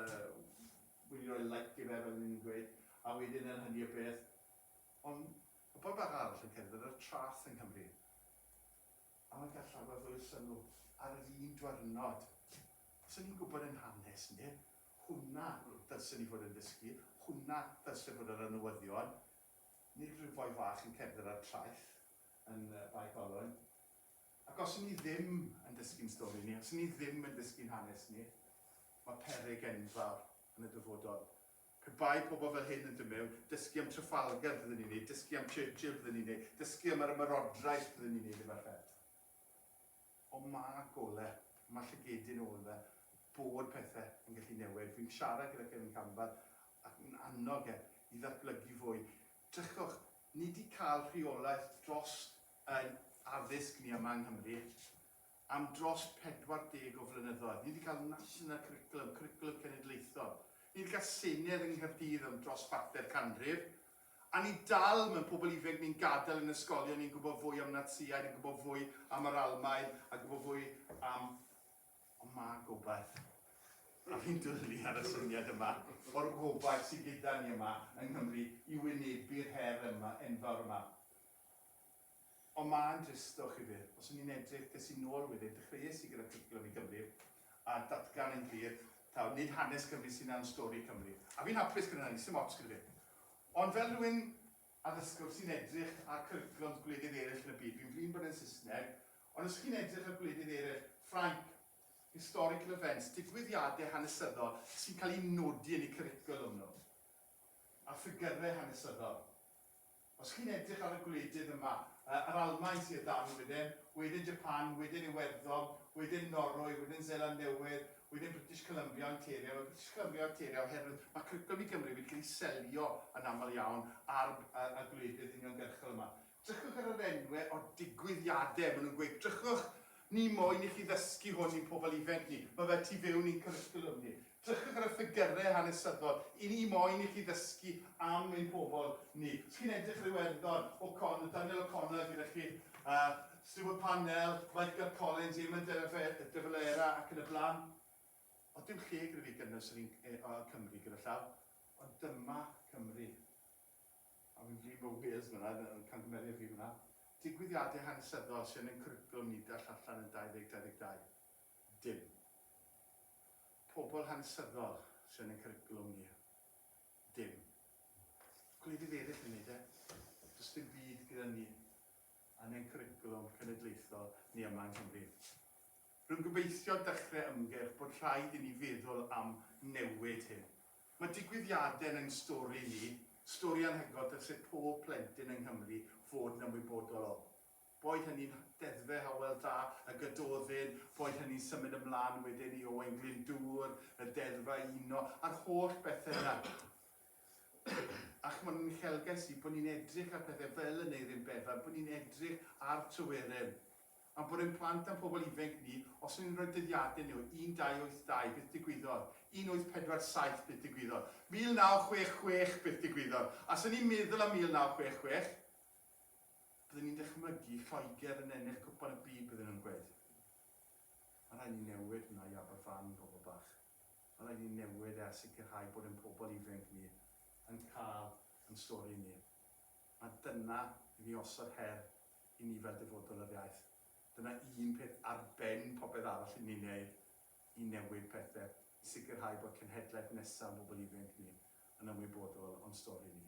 wedi rhoi like i fe, fel ni'n gweud, a wedyn yn hynny o beth, ond ma' pobl bach arall yn cerdded ar y traeth yng Nghymru. Am y gerllaw a welson nhw ar yr un dwyrnod. Os o'n i'n gwybod ein hanes ni, hwnna ddylsen ni fod yn ddysgu, hwnna ddylse fod ar y newyddion, nid rhyw foi fach yn cerdded ar traeth yn Bae Colwyn. Ac os o'n ni ddim yn dysgu'n stori ni, os o'n ni ddim yn dysgu'n hanes ni, mae peryg enfawr yn y dyfodol. Pe bai pobl fel hyn yn dod mewn, dysgu am Trafalgar fydden ni'n neud, dysgu am Churchill fydden ni'n neud, dysgu am yr ymerodraeth fydden ni'n neud efo'r fed. Ond ma' gole, ma' llygedyn yn ôl fe, bod pethe yn gallu newid. Fi'n siarad gyda Kevin Campbell ac yn annog e i ddatblygu fwy. Drychwch, ni 'di ca'l rheolaeth drost ein addysg ni yma yng Nghymru. Am dros 40 o flynyddoedd, ni 'di cael National Curriculum, Cwricwlwm Cenedlaethol, ni 'di cael Senedd yng Nghaerdydd am dros chwarter canrif, a ni dal mewn pobl ifenc ni'n gadael yn ysgolion ni'n gwybod fwy am Natsïaid, yn gwybod fwy am yr Almaen, a gwybod fwy am... Ond mae gobaith. A fi'n dwlu ar y syniad yma o'r gobaith sydd gyda ni yma yng Nghymru i wynebu'r her yma, enfawr yma. Ond mae'n dristwch i fi. Os o'n i'n edrych, des i nôl wedyn, dechreuais i gyda Trickle Over Cymru, a datgan yn glir, taw nid hanes Cymru sy'n iawn, stori Cymru. A fi'n hapus gyda hynny, sdim ots gyda fi. Ond fel rhywun addysgwr sy'n edrych ar cwricwlwms gwledydd eraill yn y byd, fi'n flin bod e'n Saesneg, ond os chi'n edrych ar gwledydd eraill, Ffrainc, historical events, digwyddiadau hanesyddol sy'n cael eu nodi yn eu cwricwlwm nhw, a ffigyrau hanesyddol, Os chi'n edrych ar y gwledydd yma, yr Almaen sy o dan ni wedyn, wedyn Japan, wedyn Iwerddon, wedyn Norwy, wedyn Seland Newydd, wedyn British Columbia, Ontario. Mae British Columbia, Ontario, oherwydd mae cwricwlwm i Gymru wedi cael ei selio yn aml iawn ar y gwledydd uniongyrchol yma. Drychwch ar yr enwau o'r digwyddiadau, maen nhw'n gweud, drychwch, ni moyn i chi ddysgu hwn i'n pobl ifainc ni, mae fe tu fewn i'n cwricwlwm ni. Drychwch ar y ffigyrau hanesyddol i ni moyn i chi ddysgu am ein pobl ni. Os chi'n edrych ar Iwerddon, O'Connor, Daniel O'Connor gyda chi, uh, Stuart Parnell, Michael Collins, Eamon de Valera ac yn y blaen. Oedd dim lle gyda fi gynnwys yr un e, uh, Cymru gyda llaw, ond dyma Cymru. A fi'n flin bod Wales fyna, yn camgymeriad fi fyna. Digwyddiadau hanesyddol sy'n ein cwricwlwm ni dall allan yn 2022. Dim. Pobl hanesyddol sy yn ein cwricwlwm ni. Dim. Gwledydd eraill yn neud e. Does dim byd gyda ni yn ein cwricwlwm cenedlaethol ni yma yng Nghymru. Rwy'n gobeithio dechrau ymgyrch bod rhaid i ni feddwl am newid hyn. Mae digwyddiadau yn ein stori ni, stori anhygoel dylse pob plentyn yng Nghymru fod yn ymwybodol o. Boed hynny'n Ddeddfe Hywel Dda y Gododdin, boed hynny'n symud ymlaen wedyn i Owain Glyndŵr, y Deddfau Uno, a'r holl bethe yna. A ch'mod, yn uchelgais i, bo' ni'n edrych ar pethe fel Aneurin Bevan, bo' ni'n edrych ar Tryweryn. A'n bod ein plant a'n pobl ifenc ni, os o'n ni'n rhoi dyddiade nhw, 1282, beth digwyddodd? 1847, beth digwyddodd? 1966, beth digwyddodd? A os o'n ni'n meddwl am 1966, Byddwn ni'n dychmygu Lloegr yn ennill Cwpan y Byd bydden nhw'n gweud Mae'n rhaid ni newid hwnna i Aberfan pobl bach. Mae'n rhaid ni newid e a sicrhau bod ein pobl ifenc ni yn cael yn stori ni. Mae dyna i ni osod her i ni fel dyfodol yr iaith. Dyna un peth ar ben popeth arall i ni'n neud i newid pethe, i sicrhau bod cenhedlaeth nesa' o'n bobl ifenc ni yn ymwybodol o'n stori ni.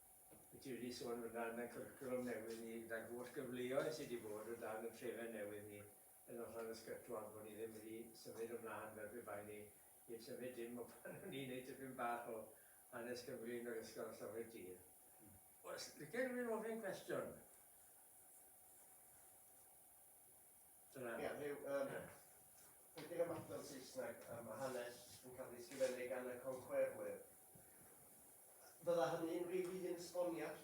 Ti wedi sôn fan'na am y cwricwlwm newydd ni gyda'r holl gyfleoedd sy' 'di bod o dan y trefen newydd ni yn Noson Ysgytwol bo' ni ddim wedi symud ymlaen fel pe bai ni heb symud dim o pan o'n i'n neud tipyn bach o hanes Cymru yn yr ysgol a Llyfr y Tir. Oes lice rywun ofyn cwestiwn? Dyna fo. Ie, rhyw, yym, rhedeg am adran Saesneg a ma' hanes yn cael ei ysgrifennu gan y conquerwyr. Fydda hynny'n rhyw un esboniad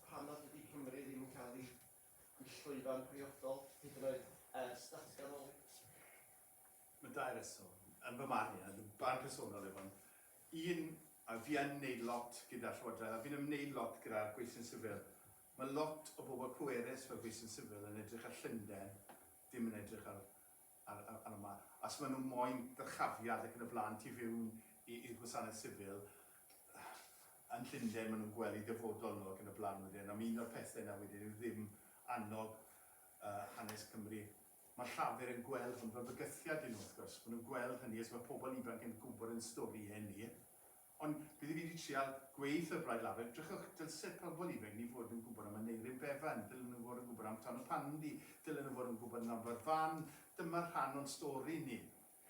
pam nad ydi Cymru ddim yn cael ei ei llwyfan priodol hyd yn oed ers datganoli? Ma' dau reswm, yn fy marn i, a dy barn personol yw hwn. Un, a fi yn neud lot gyda'r Llywodraeth a fi'n ymneud lot gyda'r gweithlu'n sifil, Mae lot o bobl pwerus fel fi sy'n sifil yn edrych ar Llundain, dim yn edrych ar ar ar ar yma. Os maen nhw moyn dyrchafiad ac yn y blaen, tu fewn i i'r gwasanaeth sifil yn Llundain maen nhw'n gwely dyfodol nhw ac yn y blaen wedyn. Am un o'r pethe yna wedyn yw ddim annog yy hanes Cymru. Mae Llafur yn gweld hwn fel bygythiad i nhw wrth gwrs. Maen nhw'n gweld hynny os mae pobl ifanc yn gwybod ein storïau ni. Ond bydd i fi 'di trial gweith y Blaid Lafur, drychwch, dylse pobl ifainc ni fod yn gwybod am Aneurin Bevan, dylen nhw fod yn gwybod am Ton y Pandy, dylen nhw fod yn gwybod am Lambert Fan, dyma rhan o'n stori ni.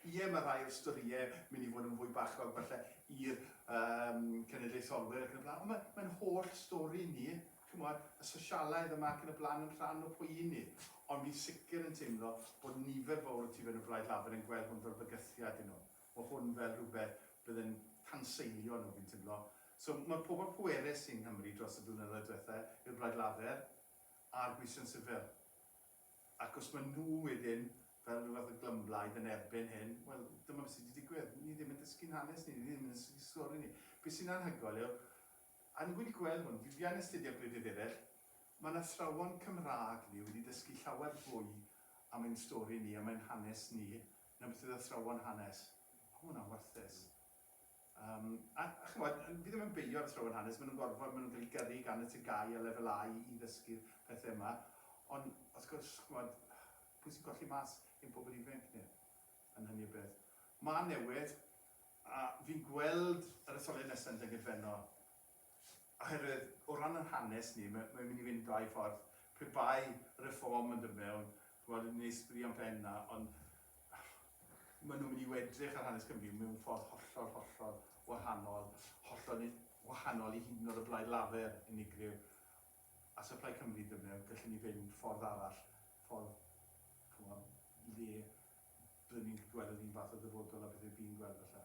Ie, mae rhai o'r storïau mynd i fod yn fwy bachog falle i'r yym cenedlaetholwyr ac yn y blaen, ond mae mae'n holl stori ni, chimod, y sosialaidd yma ac yn y blaen yn rhan o pwy i ni. Ond fi'n sicr yn teimlo bod nifer fawr o tu fewn y Blaid Lafur yn gweld hwn fel bygythiad i nhw. Mae hwn fel rhywbeth bydd yn tanseilio nhw, fi'n timlo. So, mae pobl pwerus yng Nghymru dros y blynyddoedd diwetha' yw'r Blaid Lafur a'r Gweision Sifil. Ac os maen nhw wedyn, fel rhyw fath o glymblaid, yn erbyn hyn, wel, dyma beth sy' 'di digwydd. Ni ddim yn dysgu'n hanes ni, ni ddim yn dysgu stori ni. Be' sy'n anhygoel yw, a ni wedi gweld hwn, fi fi yn astudio gwledydd eraill, mae 'na athrawon Cymraeg ni wedi dysgu llawer fwy am ein stori ni, am ein hanes ni, Newyddion athrawon hanes. O, ma' hwnna'n warthus. Um, a, a chymod, fi ddim yn beio athrawon hanes, maen nhw'n gorfod, maen nhw'n cael eu gyrru gan y tygau a lefel A i ddysgu'r pethau yma. Ond, os gwrs, chymod, pwy sy'n colli mas ein pobl ifanc ni yn hynny o beth. Mae newid, a fi'n gweld yr etholiad nesaf yn Dyngedfennol, Oherwydd, o ran ein hanes ni, mae, mae'n mynd i fynd dau ffordd. Pe bai Reform yn dod mewn, ch'mod, yn neis sbri am ben 'na, ond maen nhw'n mynd i wedrych ar hanes Cymru mewn ffordd hollol, hollol wahanol, hollol i, wahanol i hyd yn oed y Blaid Lafur, unigryw. A so Plaid Cymru yn dod mewn, gallwn ni fynd ffordd arall, ffordd, ch'mod, le byddwn ni'n gallu gweld yr un fath o ddyfodol â beth rydyn ni'n gweld falle.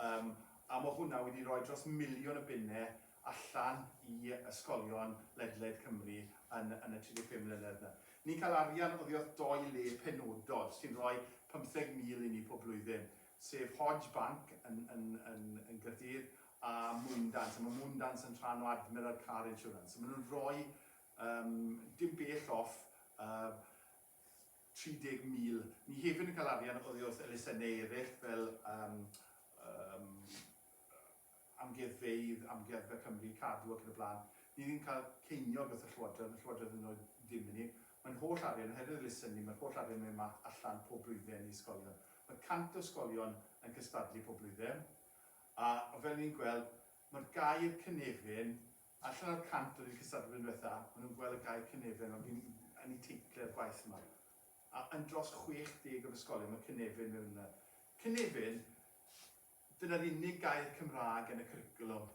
Yym, a ma' hwnna wedi rhoi dros miliwn o bunnau allan i ysgolion ledled Cymru yn yn y 35 mlynedd 'na. Ni'n cael arian oddi wrth dou le penodol sy'n rhoi 50,000 i ni pob blwyddyn, sef Hodge Bank yn yn yn yn Gaerdydd a Moondance, a ma' Moondance yn rhan o Admiral Car Insurance. So ma' nhw'n rhoi, yym, dim bell off, yy, 30,000. Ni hefyd yn cael arian oddi wrth elusennau eraill fel yym yym amgueddfeydd, Amgueddfa Cymru, Cadw ac yn y blaen. Ni ddim yn cael ceiniog wrth y Llywodraeth, mae'r Llywodraeth hyd yn oed ddim i ni. Mae'n holl arian, oherwydd elusennau, mae'r holl arian mewn mat allan pob blwyddyn i ysgolion. Mae 100 o ysgolion yn cystadlu pob blwyddyn a fel ni'n gweld, mae'r gair cynefin Allan o'r 100 oedd yn cystadlu blwyddyn diwetha, ma' nhw'n gweld y gair cynefin ond fi'n yn eu teitle'r gwaith yma. A yn dros 60 o'r ysgolion ma' cynefin mewn yna. Cynefin, dyna'r unig gair Cymraeg yn y cwricwlwm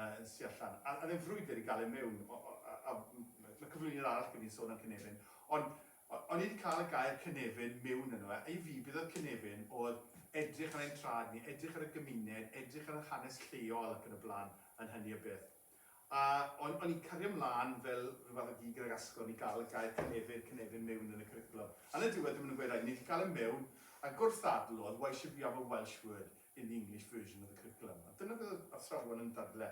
yn sy allan. A oedd e'n frwydr i gael e mewn. A ma' cyflwyniad arall gen i'n sôn am cynefin. Ond o'n i 'di cael y gair cynefin mewn yno fe. A i fi, beth oedd cynefin oedd edrych ar ein traed ni, edrych ar y gymuned, edrych ar yr hanes lleol ac yn y blaen. yn hynny o beth. A o'n, o'n i'n cario mlân fel rhyw fath o gig yn yr asgwrn i gael y gair cynefin, cynefin mewn yn y cwricwlwm. Ar y diwedd, dyma nhw'n gweud, reit, ni 'di cael e mewn, a gwrthddadlodd, why should we have a Welsh word in the English version of the curriculum? A dyna beth oedd athrawon yn dadle.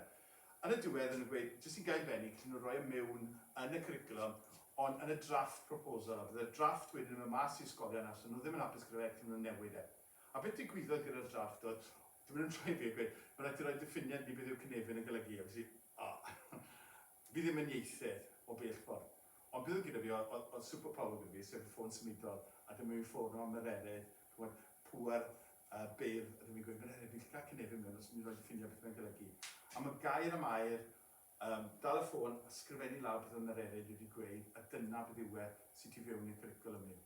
Ar y diwedd, o'n nhw'n gweud, jyst i gael benni, gallen nhw roi e mewn yn y cwricwlwm, ond yn y draft proposal, a bydde'r draft wedyn yn mynd mas i ysgolion, a allen nhw ddim yn hapus gyda fe, gallen nhw newid e. A beth ddigwyddodd gyda'r drafft oedd, dyw e ddim yn rhaid fi gweud, mae'n rhaid ti roi diffiniad i ni beth yw'r cynefin yn golygu, a ges i Fi ddim yn ieithydd o bell ffordd, ond beth oedd gyda fi oedd oedd oedd superpower gyda fi, sef y ffôn symudol, a dyma fi'n ffono am Mererid, ch'mod, pŵer yy byr, a dyma fi'n gweud, Mererid, fi'n gallu cael cynefin mewn os ti'n roi diffiniad beth mae'n golygu. A ma' Gair am Air, yym, dal y ffôn a sgrifennu lawr beth oedd Mererid wedi gweud, a dyna beth yw e, sy tu fewn i'r cwricwlwm ni.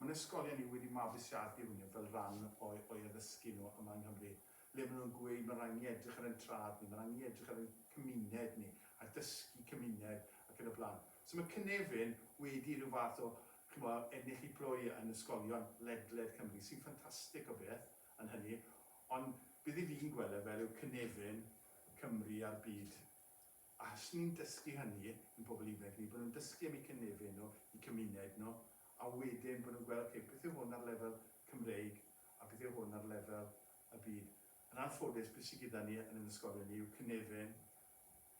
Mae'n ysgolion ni wedi mabwysiadu hwnnw fel rhan o'u o'u addysgu nhw yma yng Nghymru, le maen nhw'n gweud mae'n rhaid i ni edrych ar ein trad ni, mae'n rhaid i ni edrych ar ein cymuned ni, a dysgu cymuned ac yn y blaen. So mae Cynefin wedi rhyw fath o, chimod, ennill ei phlwy yn ysgolion ledled Cymru, sy'n ffantastig o beth yn hynny, ond beth 'yf fi'n gweld e fel yw Cynefin, Cymru a'r byd. A os ni'n dysgu hynny i'n pobl ifanc ni, bod nhw'n dysgu am eu cynefin nhw, eu cymuned nhw, a wedyn bod nhw'n gweld, ocê, beth yw hwn ar lefel Cymreig a beth yw hwn ar lefel y byd. Yn anffodus, be sy gyda ni yn ein ysgolion ni yw cynefin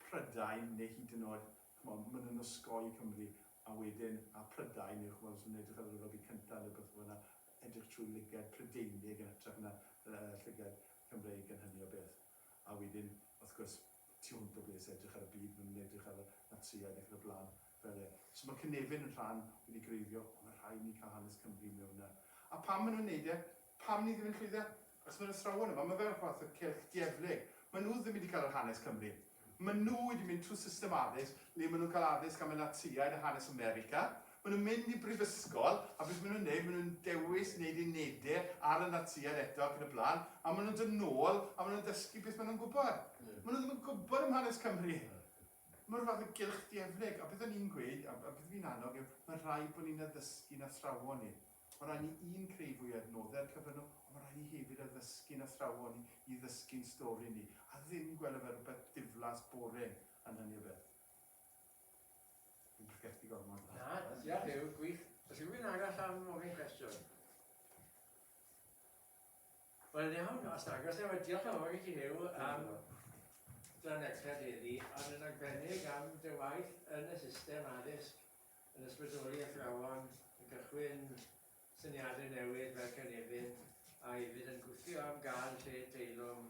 Prydain neu hyd yn oed, ch'mod, maen nhw'n osgoi Cymru, a wedyn, a Prydain yw, ch'mod, os maen nhw'n edrych ar yr Yrfa Byd Cyntaf neu rywbeth fel 'na, edrych trwy lygad Prydeinig yn hytrach na yy llygad Cymreig yn hynny o beth. A wedyn, wrth gwrs, tu hwnt o ble sy'n edrych ar y byd, maen nhw'n edrych ar y Natsïaid ac yn y blaen fel e. So mae cynefin yn rhan wedi greiddio, ond mae rhaid ni cael hanes Cymru mewn 'na. A pam maen nhw'n wneud e? Pam ni ddim yn llwyddo? Achos maen nhw'n athrawon yma, mae fel rhywfath o cylch dieflig. Maen nhw ddim wedi cael yr hanes Cymru. Maen nhw wedi mynd trwy system addysg le maen nhw'n cael addysg am y Natsïaid a hanes America, Maen nhw'n mynd i brifysgol, a beth maen nhw'n wneud, maen nhw'n dewis wneud unedau ar y Natsïaid eto ac yn y blaen, a maen nhw'n dod nôl a maen nhw'n dysgu beth maen nhw'n gwybod. Maen nhw ddim yn gwybod am hanes Cymru. Mae'r fath o gylch dieflig, a beth o'n i'n gweud, a beth fi'n annog yw, mae'n rhaid bod ni'n addysgu'n athrawon ni. Mae'n rhaid ni, un, creu fwy o adnoddau ar cyfer nhw, ond mae'n rhaid ni hefyd addysgu'n athrawon ni i ddysgu'n stori ni, a ddim gweld o fel rhywbeth diflas, boring, yn hynny o beth. Dwi'n pregethu gormod. Na, diolch Huw, gwych. Os yw rhywun arall am ofyn cwestiwn? Wel iawn, os agos efo'r diolch yn fawr i ti Huw am dran extra heddi, ond yn arbennig am dy waith yn y system addysg yn ysbrydoli athrawon yn cychwyn syniadau newydd fel cynefin a hefyd yn gwthio am gael lle teilwng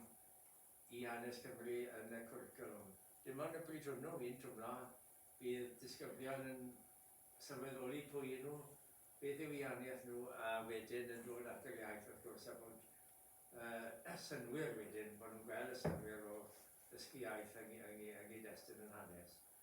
i hanes Cymru yn y cwricwlwm. Dim ond y pryd hwnnw, fi'n twmlo, bydd disgyblion yn sylweddoli pwy y'n nhw, beth yw ianiaeth nhw, a wedyn yn dod at yr iaith wrth gwrs, a bod y synnwyr wedyn, bod nhw'n gweld y synnwyr o ddysgu iaith yng nghyd-destun yn hanes.